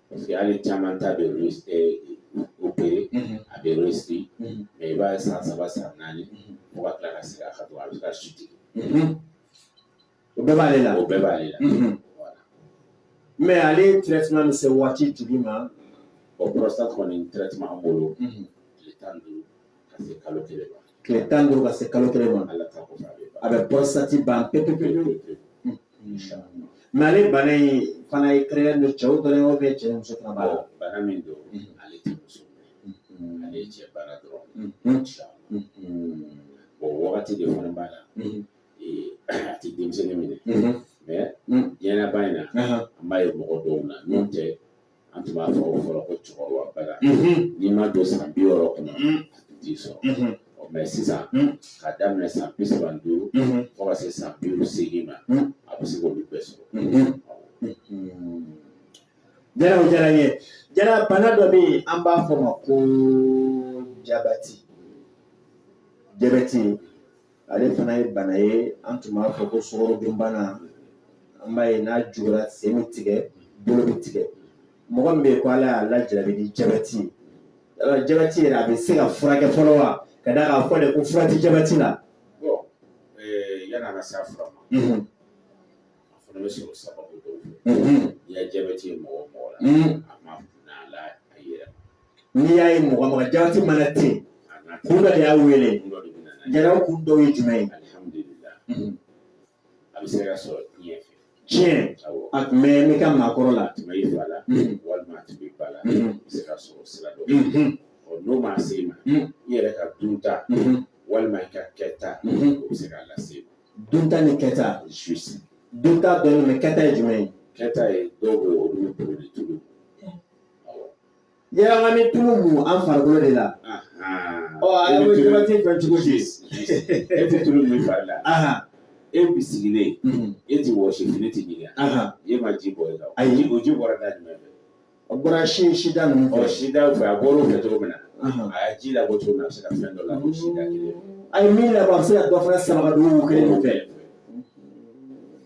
parce que hali caman ta bɛ opéré a bɛ réussi mais i b'a ye san saba san naani fo ka tila ka segin a kan tugun a bɛ ka chute O bɛɛ b'ale la o bɛɛ b'ale la mais ale traitement bɛ se waati jumɛn ma prostate kɔni traitement an bolo tan ka se kalo kelen ma tile tan duuru ka se kalo kelen ma ala ta a bɛ prostate ban pe pe pe mais ale bana in fana ye kɛrɛn don cɛw dɔrɔn yɔrɔ bɛ cɛ muso fana b'a la bana min don ale tɛ muso ale ye cɛ bana dɔrɔn o wagati de fana b'a la a tɛ denmisɛnnin minɛ diɲɛba in na an b'a ye mɔgɔ dɔw na n'o tɛ an tun b'a fɔ fɔlɔ ko cɛkɔrɔba bana n'i ma don san bi wɔɔrɔ kɔnɔ a tun t'i sɔrɔ mais sisan ka daminɛ san bi saba ni duuru fo ka se san bi seegin ma a bɛ se k'olu bɛɛ sɔrɔ jara o diyara n ye jara bana dɔ bɛ yen an b'a fɔ ma ko jabati jabɛti ale fana ye bana ye an tun b'a fɔ ko sukarodunbana an b'a ye n'a juguyara sen bɛ tigɛ bolo bɛ tigɛ mɔgɔ min bɛ yen ko ala y'a lajarabi ni jabɛti ye yala jabɛti yɛrɛ a bɛ se ka furakɛ fɔlɔ wa ka d'a kan a fɔ de ko fura tɛ jabɛti la yanni an ka se a fura ma Mhm, a fana bɛ sɔrɔ sababu dɔw fɛ mhm, n'i ye jabɛti ye mɔgɔ o mɔgɔ la mhm, a ma na la a yɛrɛ n'i y'a ye mɔgɔ mɔgɔ jati bana tɛ yen kun dɔ de y'a wele Jara kun dɔw ye jumɛn ye a bɛ se ka sɔrɔ tiɲɛ fɛ tiɲɛ a tun bɛ i ka maakɔrɔ la a tun bɛ i fa la walima a tun b'i ba la a bɛ se ka sɔrɔ sira dɔ ɔ n'o ma se i ma i yɛrɛ ka dunta walima i ka kɛta o bɛ se k'a lase i ma dunta ni kɛta dunta dɔɔnin mɛ kɛta ye jumɛn ye kɛta ye dɔw bɛ olu bɛ boli tulu Yala ka nin tulu mun an farikolo de la ɔ a ye jama tɛ fɛn cogo di e tɛ tulu mun i fari la e bi sigilen e tɛ wɔsi fini tɛ ɲigin ka e ma ji bɔn e la ayi o ji bɔra da jumɛn fɛ a bɔra si sida ninnu fɛ sida fɛ a bɔra o fɛ cogo min na a ye ji labɔ cogo min na a bɛ se ka fɛn dɔ labɔ sida kelen a ye min labɔ a bɛ se ka dɔ fana sama ka don o kelen fɛ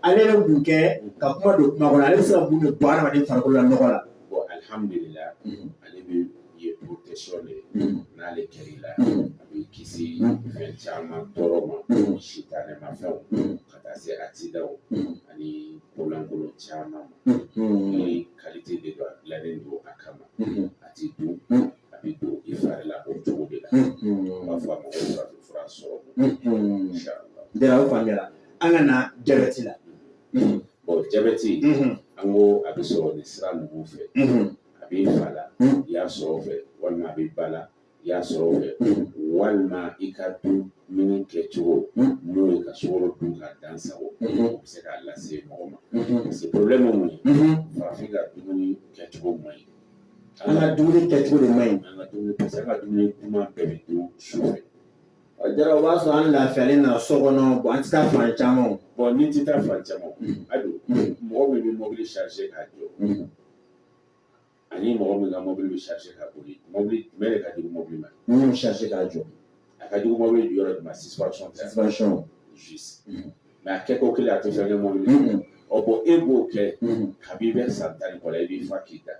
ale bɛ mun kɛ ka kuma don kuma kɔnɔ ale bɛ se ka mun de bɔ adamaden farikolo la nɔgɔ la bon alhamdulillah ale bɛɛ ye protection de ye n'ale kɛr'i la a b'i kisi fɛn caman tɔɔrɔ ma sitanɛ ma fɛnw ka taa se accident ani ko lankolon caman ma ni qualité de don a dilannen don a kama a ti dun a bɛ don i fari la o cogo de la n b'a fɔ a ma ko farafin fura sɔrɔ inchallah Jara o faamuyara an ka na jabɛti la bɔn jabɛti an ko a bɛ sɔrɔ nin sira ninnu fɛ a b'i fa la i y'a sɔrɔ a fɛ walima a b'i ba la i y'a sɔrɔ a fɛ walima i ka dumuni kɛcogo n'o ye ka sukaro dun ka dan sagon o bɛ se k'a lase mɔgɔ ma parce que problème mun ye farafin ka dumuni kɛcogo man ɲi an ka dumuni kɛcogo de man ɲi an ka dumuni parce que an ka dumuni duman bɛɛ bɛ dun su fɛ Jara o b'a sɔrɔ an lafiyalen na so kɔnɔ bɔn an tɛ taa fan caman bɔn n'i tɛ taa fan caman a don mɔgɔ min bɛ mobili sarisi k'a jɔ ani mɔgɔ min ka mobili bɛ sarisi ka boli mobili bɛɛ de ka jugu mobili ma min b'a sarisi k'a jɔ a ka jugu mobili jɔyɔrɔ de ma sisipasɔn tɛ sisipasɔn jisi mɛ a kɛko kelen a tɛ fɛn kɛ mobili ɔ bɔn e b'o kɛ kabi i bɛ san tan ni kɔ i b'i fa k'i da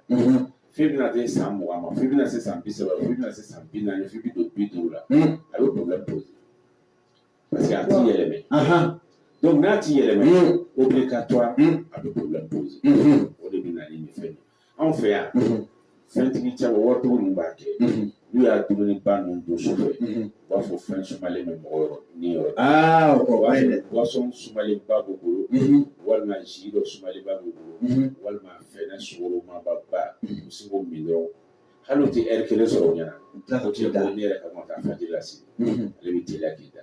f'i bɛna se san mugan ma f'i bɛna se san bi saba f'i bɛna se san bi naani f'i bi don bi duuru la a bɛ problème poser parce que a ti yɛlɛmɛ donc n'a ti yɛlɛmɛ obligatoire a bɛ problème poser o de bɛ na ni nin fɛn ye anw fɛ yan fɛntigi caman waritigiw ninnu b'a kɛ n'u ye dumuniba ninnu dun su fɛ u b'a fɔ fɛn sumalen bɛ mɔgɔ yɔrɔ ni yɔrɔ aa o b'a ye dɛ boisson sumalen ba b'u bolo walima jus dɔ sumalen ba b'u bolo walima fɛnɛ sugoroma ba ba u bɛ se k'o min dɔrɔn hali u tɛ ɛri kelen sɔrɔ u bɛna tila ka o t'u tɛ da bɔ ne yɛrɛ kama ka fajiri lase ale bɛ teliya k'i da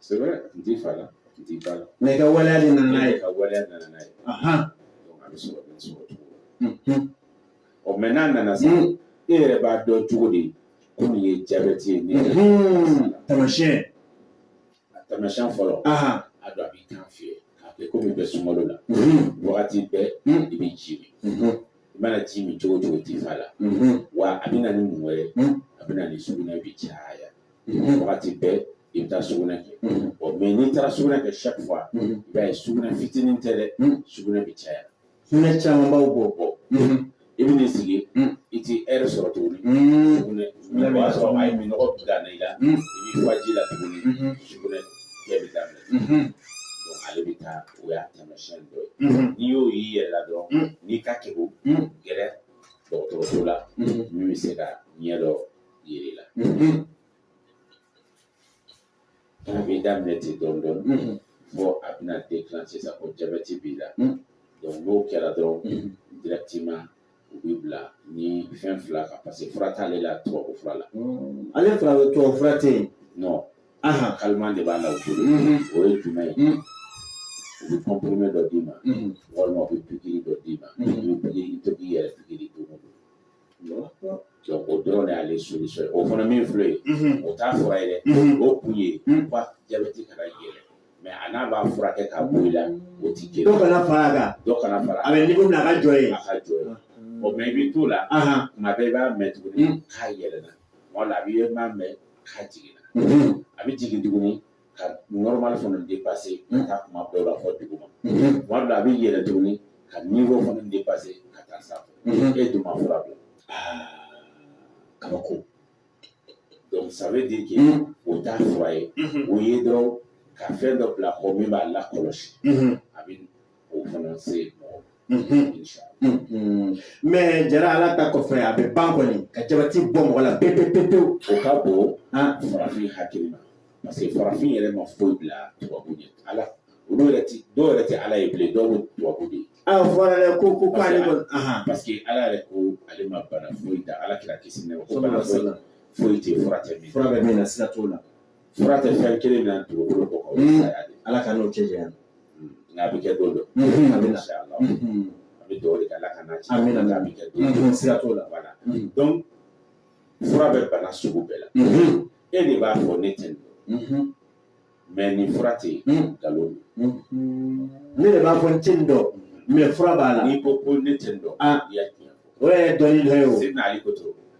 C'est vrai, n t'i fa la, n t'i ba la. Mɛ i ka waleya de nana n'a ye. Ka waleya nana n'a ye. Ahan. Donc a bɛ sɔrɔ bɛ sɔrɔ cogo la. Unhun. Ɔ mɛ n'a nana sa, Mm. e yɛrɛ b'a dɔn cogo di ko nin ye jabɛti ye, nin ye Unhun. Taamasiyɛn. a taamasiyɛn fɔlɔ, Ahan. a dɔn a b'i kan fiyɛ, k'a kɛ komi i bɛ sunkalo la. Unhun. Wagati bɛɛ Mm. i bɛ ji min. Unhun. I mana ji min cogo o cogo i t'i fa la. Unhun. Wa a bɛ na ni mun wɛrɛ ye? Mm. A bɛ na ni sugunɛ bɛ caya. wagati bɛɛ i bɛ taa sugunɛ kɛ ɔ mɛ n'i taara sugunɛ kɛ chaque fois i b'a ye sugunɛ fitinin tɛ dɛ sugunɛ bɛ caya sugunɛ camanba bɛ bɔ i bɛ n'i sigi i tɛ ɛri sɔrɔ tuguni sugunɛ sugunɛ b'a sɔrɔ a ye minnɔgɔ bila i la i b'i fa ji la tuguni sugunɛ kɛ bɛ daminɛ ale bɛ taa o y'a taamasiyɛn dɔ ye n'i y'o y'i yɛrɛ la dɔrɔn i ka kan ka gɛrɛ dɔgɔtɔrɔso la min bɛ se ka ɲɛ dɔ yir'i la n'a b'i daminɛ ten dɔɔni dɔɔni fɔ a bɛna déclencher sisan ko jabɛti b'i la n'o kɛra dɔrɔn directement u b'i bila nin fɛn fila kan paseke fura t'ale la tubabu fura la ale fura tubabu fura tɛ yen non calmant de b'a la u bolo o ye jumɛn ye u bɛ comprimé dɔ d'i ma walima u bɛ pikiri dɔ d'i ma i bɛ pikiri i bɛ to k'i yɛrɛ pikiri don o don o dɔrɔn de y'ale solution ye o fana min filɛ ye o t'a fura ye dɛ o kun ye jabɛti kana yɛlɛ mɛ a n'a b'a furakɛ k'a bɔ i la o ti kelen dɔ kana fara a kan dɔ kana fara a bɛ niveau min na a ka jɔ yen a ka jɔ yen ɔ mɛ i bɛ t'o la kuma dɔ i b'a mɛn tuguni k'a yɛlɛna tuma dɔ la a b'i ye m'a mɛn k'a jiginna a bɛ jigin tuguni ka normal fana dépasser ka taa kuma b'a la fɔ dugu ma tuma b'a la a bɛ yɛlɛ tuguni ka niveau fana dépasser ka taa sa e dun ma fura bila kabako donc ça veut dire que o t'a fura ye o ye dɔrɔn ka fɛn dɔ bila kɔ min b'a lakɔlɔsi a bɛ o fana se mɔgɔ mɛ jara ala ta kɔfɛ a bɛ ban kɔni ka jabati bɔ mɔgɔ la pewu pewu pewu o ka bon farafin hakili ma parce que farafin yɛrɛ ma foyi bila tubabu ɲɛ ala olu yɛrɛ ti dɔw yɛrɛ tɛ ala ye bilen dɔw bɛ tubabu de ye a fɔra dɛ ko ko k'ale kɔni parce que ala yɛrɛ ko ale ma bana foyi da ala kira kisi nɛɛma ko bana foyi foyi tɛ fura tɛ min fura bɛ min na siga t'o la fura tɛ fɛn kelen na dugukolo kan hmm. ala k'an n'o cɛ janya hmm. nka a bɛ kɛ don dɔ hmm. a bɛ na ala a bɛ dɔw de kɛ ala k'an n'a cɛ a bɛ na a bɛ kɛ don dɔ siga t'o la wala donc fura bɛ bana sugu bɛɛ la e de b'a fɔ ne tɛ nin dɔn mɛ nin fura tɛ yen nkalon don ne de b'a fɔ n tɛ nin dɔn mɛ fura b'a la n'i ko ko ne tɛ nin dɔn i ye tiɲɛ fɔ o yɛrɛ dɔnni dɔ ye o se n'ale ko to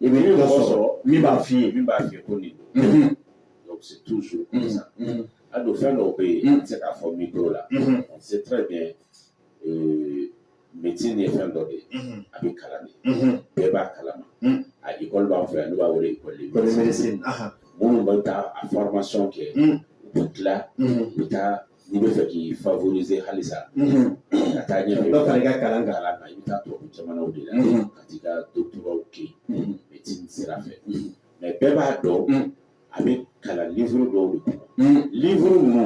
I bɛ mɔgɔ sɔrɔ min b'a f'i ye min b'a f'i ye ko nin donc c'est toujours comme ça a dɔn fɛn dɔw bɛ yen n tɛ se k'a fɔ micro la on sait très bien euh, médecine ye fɛn dɔ de ye a bɛ kalan de bɛɛ b'a kalama a école b'an fɛ yan n'u b'a wele école de médecine minnu bɛ taa a formation kɛ u bɛ tila u bɛ taa n'i b'a fɛ k'i favoriser halisa ka taa ɲɛfɛ dɔ fara i ka kalan kan kalan kan i bɛ taa tubabu jamanaw de la ka t'i ka doctorat kɛ yen médecine sira fɛ mais bɛɛ b'a dɔn a bɛ kalan livre dɔw de kɔnɔ livre ninnu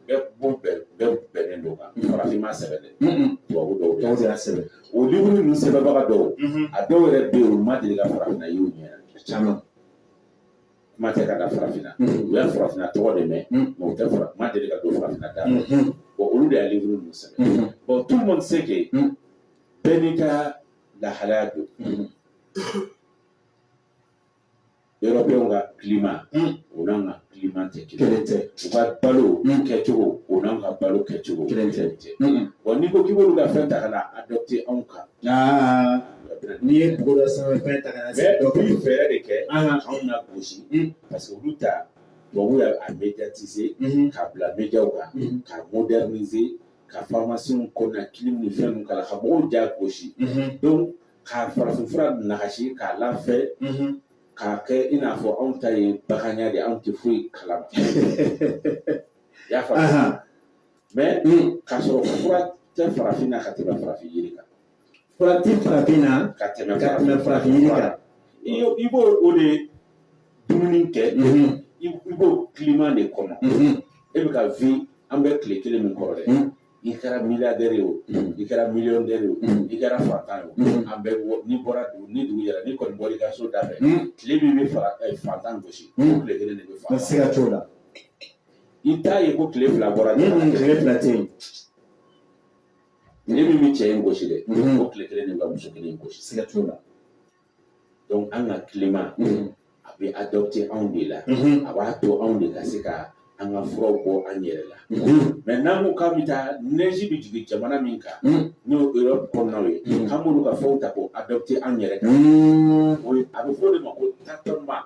bɛɛ b'o bɛɛ bɛɛ bɛnnen don a kan farafin m'a sɛbɛn dɛ tubabu dɔw de y'a sɛbɛn sɛbɛn o livre ninnu sɛbɛnbaga dɔw a dɔw yɛrɛ bɛ yen u ma deli ka farafinna ye u ɲɛ caman kuma tɛ ka na farafina u bɛ farafina tɔgɔ de mɛn mais u tɛ fara u ma deli ka don farafina da bon olu de y'a livre ninnu sɛbɛn bon tout le monde sait que bɛɛ n'i ka lahalaya don Européen w ka climat o n'an ka climat tɛ kelen ye u ka balo kɛcogo o n'an ka balo kɛcogo kelen tɛ bon n'i ko k'i b'olu ka fɛn ta ka n'a adapter anw kan N'i ye dugu dɔ sanfɛ fɛn ta ka n'a sigi dɔ kan. Mais u bɛ fɛɛrɛ de kɛ. Anhan. K'anw na gosi. Un. Parce que olu ta tubabuw y'a a médiatiser. Unhun. K'a bila média w kan. Unhun. K'a moderniser ka pharmacie w kɔnɔna clim ni fɛn ninnu k'a la, ka mɔgɔw ja gosi. Unhun. Donc ka farafin fura nagasi k'a lafiɲɛ. Unhun. K'a kɛ i n'a fɔ anw ta ye baganya de ye, anw tɛ foyi kalama. I y'a faamu. Anhan. Mais. Un. K'a sɔrɔ fura tɛ farafin na ka tɛmɛ farafin yiri kan. Fura tɛ farafin na ka tɛmɛ ka tɛmɛ farafin yiri kan i b'o de dumuni kɛ i b'o kilima de kɔnɔ e bɛ ka vi an bɛ tile kelen min kɔrɔ dɛ i kɛra miliyardɛri ye o i kɛra miliyɔndɛri ye o i kɛra fantan ye o an bɛɛ n'i bɔra dugu ni dugu jɛra n'i kɔni bɔra i ka so da fɛ tile min bɛ fara fantan gosi tile kelen de bɛ fara siga t'o la i t'a ye ko tile fila bɔra tile fila tɛ yen tile min bɛ cɛ in gosi dɛ mhm. o tile kelen de bɛ muso kelen in gosi siga t'o la donc an ka kilima mhm. a bɛ adɔpte anw de la mhm. a b'a to anw de ka se ka an ka furaw kɛ an yɛrɛ la mais n'an ko k'an bɛ taa nɛzi bɛ jigin jamana min kan n'o Europe kɔnɔnaw ye k'an b'olu ka fɛnw ta k'o adɔpte an yɛrɛ kan o ye a bɛ fɔ o de ma ko tâtonnement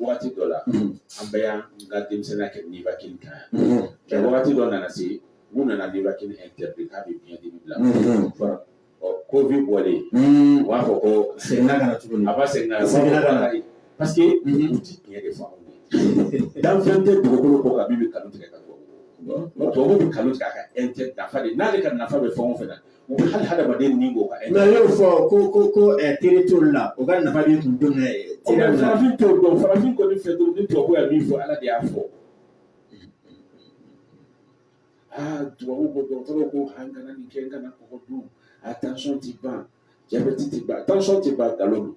wagati dɔ la an bɛɛ y'an ka denmisɛnninya kɛ nivakini kan yan nka wagati dɔ nana se u nana nivakini ɛntɛridi k'a bɛ biɲɛ dimi bila ɔ covid bɔlen u b'a fɔ ko segin ka na tuguni a b'a segin ka na segin ka na parce que u tɛ tiɲɛ de fɔ danfɛn tɛ dugukolo kɔ kan min bɛ kalon tigɛ ka bɔ tubabu bɛ kalon tigɛ a ka ɛntɛ nafa de n'ale ka nafa bɛ fɛn o fɛn na U bɛ hali hadamaden ni bɔ nka y'o fɔ ko ko ko teri t'o la u ka nafa de tun don farafin t'o dɔn farafin kɔni fɛ don ni tubabu ye min fɔ ala de y'a fɔ aa tubabu ko dɔgɔtɔrɔ ko an kana nin kɛ kana kɔgɔ dun a tansiyɔn tɛ ban jabɛti tɛ ban tansiyɔn tɛ ban nkalon don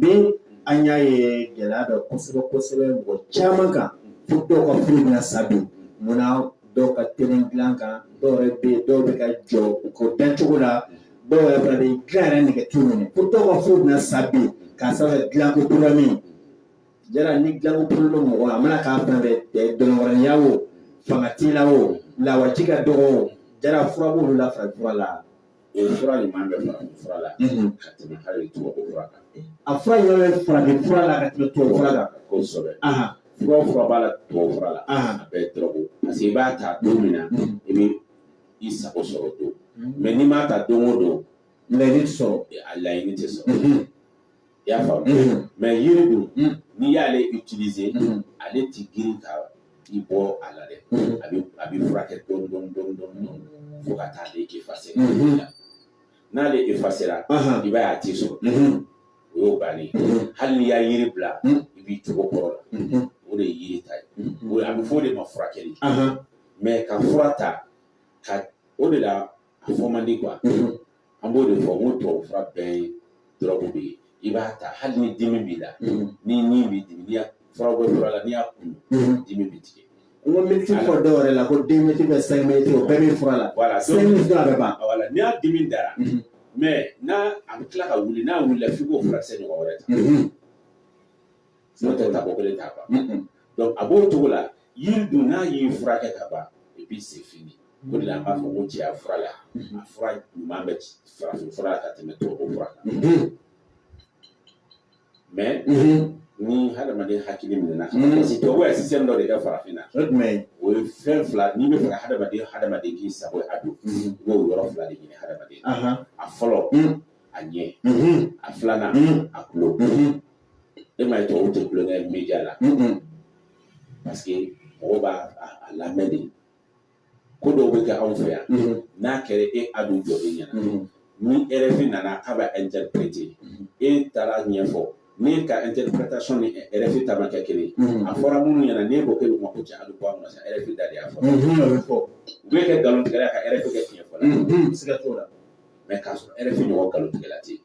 min an y'a ye gɛlɛya bɛ kosɛbɛ kosɛbɛ mɔgɔ caman kan fo dɔw ka furu bɛna sa bi munna dɔw ka teli dilan kan dɔw yɛrɛ bɛ yen dɔw bɛ ka jɔ u ko dan cogo la dɔw yɛrɛ fana bɛ dilan yɛrɛ nege t'u minɛ fo dɔw ka furu bɛna sa bi k'a sababu dilanko kura min yala ni dilanko kura bɛ mɔgɔ la a mana k'a fɛn fɛn dɔgɔya o fanga t'i la o lawaji ka dɔgɔ o yala fura b'olu la farafin fura la O fura ɲuman bɛ farafin fura la ka tɛmɛ hali tubabu fura kan a fura in yɛrɛ farafin fura la ka tɛmɛ tubabu fura kan kosɛbɛ fura o fura b'a la tubabu fura la a bɛɛ ye dɔrɔgu parce que i b'a ta don min na i bɛ i sago sɔrɔ don mais n'i m'a ta don o don laɲini sɔrɔ a laɲini tɛ sɔrɔ I y'a faamu unhun mais yiri dun un n'i y'ale utiliser unhun ale tɛ girin ka i bɔ a la dɛ unhun a bɛ a bɛ furakɛ dɔɔni dɔɔni dɔɔni dɔɔni dɔɔni fo ka taa ale effacer Mhm. n'ale effacer la ahan i b'a ye a t'i sɔrɔ unhun o y'o bannen ye unhun hali n'i y'a yiri bila Mhm. i b'i cogo kɔrɔ la unhun o de ye yiri ta ye unhun o a bɛ fɔ o de ma furakɛli ahan mais ka fura ta ka o de la a fɔ man di quoi an b'o de fɔ n ko tubabu fura bɛɛ ye dɔrɔgu de ye i b'a ta hali ni dimi b'i la ni ɲin b'i dimi n'i y'a fura bɛ fura la n'i y'a kun dimi b'i tigɛ n ko mɛtiri fɔ dɔw yɛrɛ la ko den mɛtiri bɛ sɛgɛ mɛtiri o bɛɛ bɛ fura la wala sɛgɛ mɛtiri a bɛ ban wala n'i y'a dimi dara mais n'a a bɛ tila ka wuli n'a wulila f'i k'o furakisɛ ɲɔgɔn wɛrɛ ta N'o tɛ ta bɔkolo t'a ban donc a b'o cogo la yiri dun n'a y'i furakɛ ka ban i bɛ c'est fini o de an b'a fɔ ko cɛya fura la a fura ɲuman bɛ farafin fura ka tɛmɛ tubabu fura mais ni hadamaden hakili minɛ na dɔw sisan dɔ de kɛra farafin na o jumɛn o ye fɛn fila ni bɛ fɛ hadamaden hadamaden k'i sago a don i b'o yɔrɔ fila de ɲini hadamaden a fɔlɔ a ɲɛ a filanan a tulo e m'a ye tubabu tɛ tulonkɛ media la parce que mɔgɔw b'a lamɛn de ko dɔw bɛ kɛ anw fɛ yan n'a kɛra e a dun jɔlen ɲɛna ni RFI nana k'a bɛ interpréter e taara ɲɛfɔ ne ka interprétation ni RFI ta ma kɛ kelen a fɔra minnu ɲɛna n'e ko k'e bɛ mako cɛ a bɛ bɔ a ma sa RFI da de y'a fɔ u b'e kɛ nkalontigɛla ka RFI kɛ tiɲɛfɔla siga t'o la mais k'a sɔrɔ RFI ɲɔgɔn nkalontigɛla tɛ yen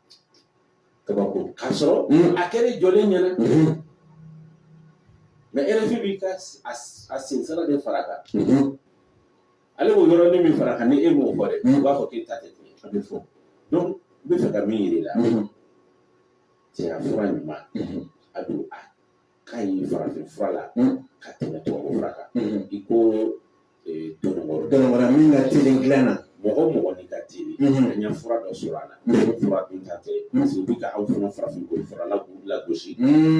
kabako k'a sɔrɔ a kɛra jɔlen ɲɛnama RFI b'i ka a sensɛrɛ de fara kan ale b'o yɔrɔnin min fara kan ni e m'o fɔ dɛ u b'a fɔ k'e ta tɛ tiɲɛ a bɛ fɔ donc n bɛ fɛ ka min yir'i la cɛya fura ɲumanba don a ka ɲi farafin fura la ka tɛmɛ tubabu fura kan i ko tɔnɔ wɛrɛ min ka teli dilan na mɔgɔ o mɔgɔ n'i ka teli an ye fura dɔ sɔrɔ a la fura dunta tɛ parce que u bɛ ka aw fana farafin ko fura la k'u lagosi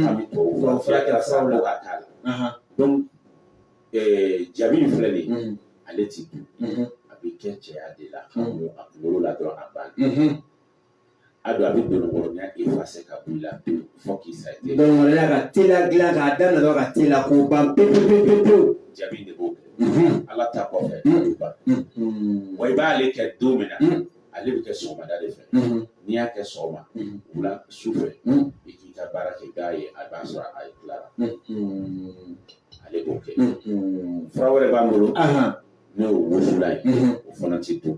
a bɛ tubabu fura fura kɛra sababu la k'a k'a la donc jabi in filɛ nin ye ale ti dun a bɛ kɛ cɛya de la a kunkolo la dɔrɔn a banna a don a bɛ donɔrɔnya i fa se ka b'i la pewu fɔ k'i sa i dɔnɔrɔya ka teliya dilan k'a daminɛ dɔrɔn ka teliya k'o ban pewu pewu pewu pewu jabi de b'o kɛ ala ta kɔfɛ a bɛ ban wa i b'ale kɛ don min na ale bɛ kɛ sɔgɔmada de fɛ n'i y'a kɛ sɔgɔma wula su fɛ i k'i ka baara kɛ k'a ye a b'a sɔrɔ a tilara ale b'o kɛ fura wɛrɛ b'an bolo n'o ye wusulan ye o fana tɛ dun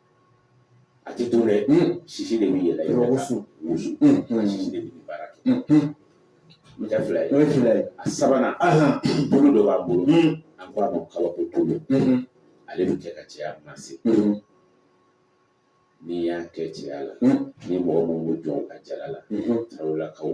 a tɛ dun dɛ sisi de bɛ yɛlɛn yɔrɔ wusu wusu sisi de bɛ baara kɛ n tɛ fila ye o ye fila ye a sabanan bolo dɔ b'an bolo an ko a ma kabako tulu ale bɛ kɛ ka cɛya mase n'i y'a kɛ cɛya la ni mɔgɔ minnu bɛ jɔ a jala la tarawelakaw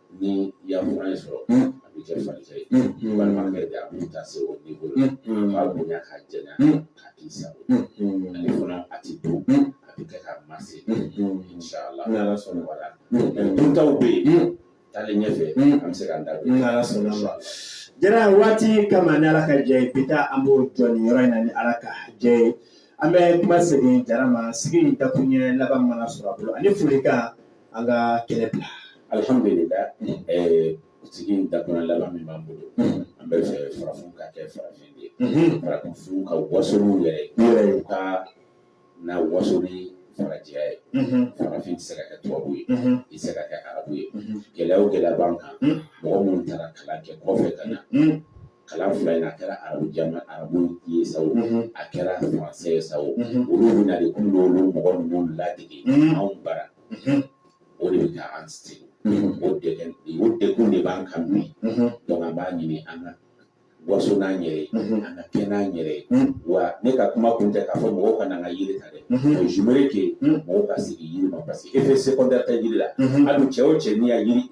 ni i y'a fura in sɔrɔ a bɛ kɛ falikɛ ye walima kɛ a bɛ taa se o ni bolo k'a bonya k'a janya k'a k'i sago ale fana a ti dun a bɛ kɛ k'a mase inshallah ni ala sɔnna fura duntaw bɛ yen taalen ɲɛfɛ an bɛ se k'an da don ni ala sɔnna ma jara waati kama ni ala ka jɛ ye bi ta an b'o jɔ nin yɔrɔ in na ni ala ka jɛ ye an bɛ kuma segin jara ma sigi in dakun ɲɛ laban mana sɔrɔ a bolo ani folikan an ka kɛnɛ bila alihamdulila sigi in dakun laban min b'an bolo an bɛ fɛ farafin ka kɛ farafin de ye farafin ka waso n'u yɛrɛ ye u kana waso ni farajɛya ye farafin tɛ se ka kɛ tubabu ye i tɛ se ka kɛ arabu ye gɛlɛya o gɛlɛya b'an kan mɔgɔ minnu taara kalan kɛ kɔfɛ ka na kalan fila in a kɛra arabu jama arabu ye sa o a kɛra faransɛ ye sa o olu bɛ na de ko n'olu mɔgɔ ninnu ladege anw bara o de bɛ ka an sɛgɛn o degun o degun de b'an kan bi donc an b'a ɲini an ka waso n'an yɛrɛ ye an ka kɛ an yɛrɛ ye wa ne ka kuma kun tɛ k'a fɔ mɔgɔw ka na an ka yiri ta dɛ o j'aimerais que mɔgɔw ka segin yiri ma parce que effet secondaire tɛ yiri la hali cɛ o cɛ n'i y'a yiri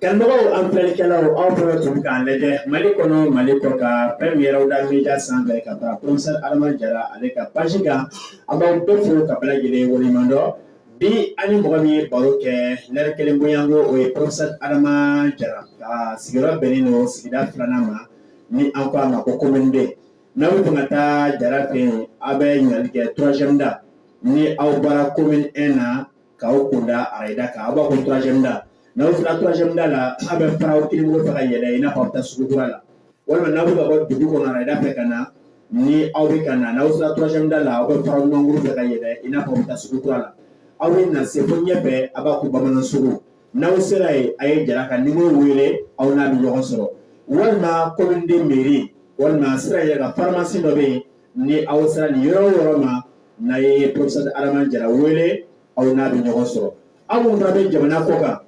Karamɔgɔw an filɛlikɛlaw aw fana tun bɛ k'an lajɛ mali kɔnɔ mali kɔ kan fɛn min yɛrɛw da meja sanfɛ ka taa professeur adama jara ale ka paji kan an b'aw bɛɛ fo ka bɛɛ lajɛlen waleɲuman dɔn bi an ni mɔgɔ min ye baro kɛ lɛri kelen bonyanko o ye professeur adama jara ka sigiyɔrɔ bɛnnen don sigida filanan ma ni an ko a ma ko komin deux n'aw bɛ fɛ ka taa jara fɛ yen aw bɛ ɲininkali kɛ troisième da ni aw bɔra komin un na k'aw kunda arayida kan aw b'a ko troisième da n'aw sera troisième da la aw bɛ fara aw kinin bolo fɛ ka yɛlɛ i n'a fɔ aw bɛ taa sugu kura la walima n'aw bɛ ka bɔ dugu kɔnɔ arayida fɛ ka na ni aw bɛ ka na n'aw sera troisième da la aw bɛ fara aw numan bolo fɛ ka yɛlɛ i n'a fɔ aw bɛ taa sugu kura la aw bɛ na se fo ɲɛfɛ aw b'a ko bamanan sugu n'aw sera yen a ye jara ka nimoro wele aw n'a bɛ ɲɔgɔn sɔrɔ walima komin deux mairie walima sira yɛrɛ ka faramasi dɔ bɛ yen ni aw sera nin yɔrɔ yɔrɔ ma n'a ye professeur adama jara wele aw n'a bɛ ɲɔgɔn sɔrɔ aw minnu bɛ jamana kɔ kan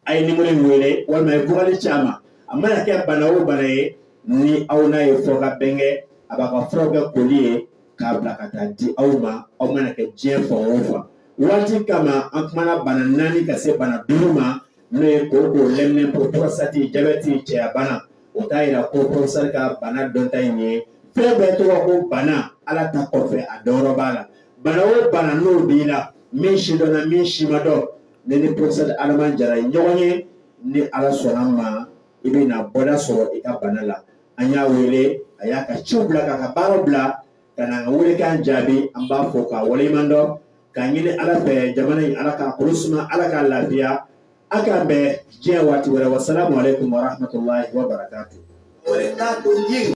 a ye nimoro in wele walima a ye vocal ci a ma a mana kɛ bana o bana ye ni aw n'a ye fɔ ka bɛn kɛ a b'aw ka fura kɛ koli ye k'a bila ka taa di aw ma aw mana kɛ diɲɛ fan o fan waati kama an kumana bana naani ka se bana duuru ma n'o ye kooko lɛminɛnpo prostate jabɛti cɛyabana o t'a yira ko professeur ka bana dɔnta in ye fɛn bɛɛ tɔgɔ ko bana ala ta kɔfɛ a dɔyɔrɔ b'a la bana o bana n'o b'i la min si dɔnna min si ma dɔn n'i ni professeur adama jara ɲɔgɔn ye ni ala sɔnna a ma i bɛ na bɔda sɔrɔ i ka bana la an y'a wele a y'a ka ciw bila k'a ka baaraw bila ka na an ka welekan jaabi an b'a fo k'a waleɲuman dɔn k'a ɲini ala fɛ jamana in ala k'a kolo suma ala k'a lafiya A k'an bɛn diɲɛ waati wɛrɛ wa sala kun wɛrɛ tun wɛrɛ tun ye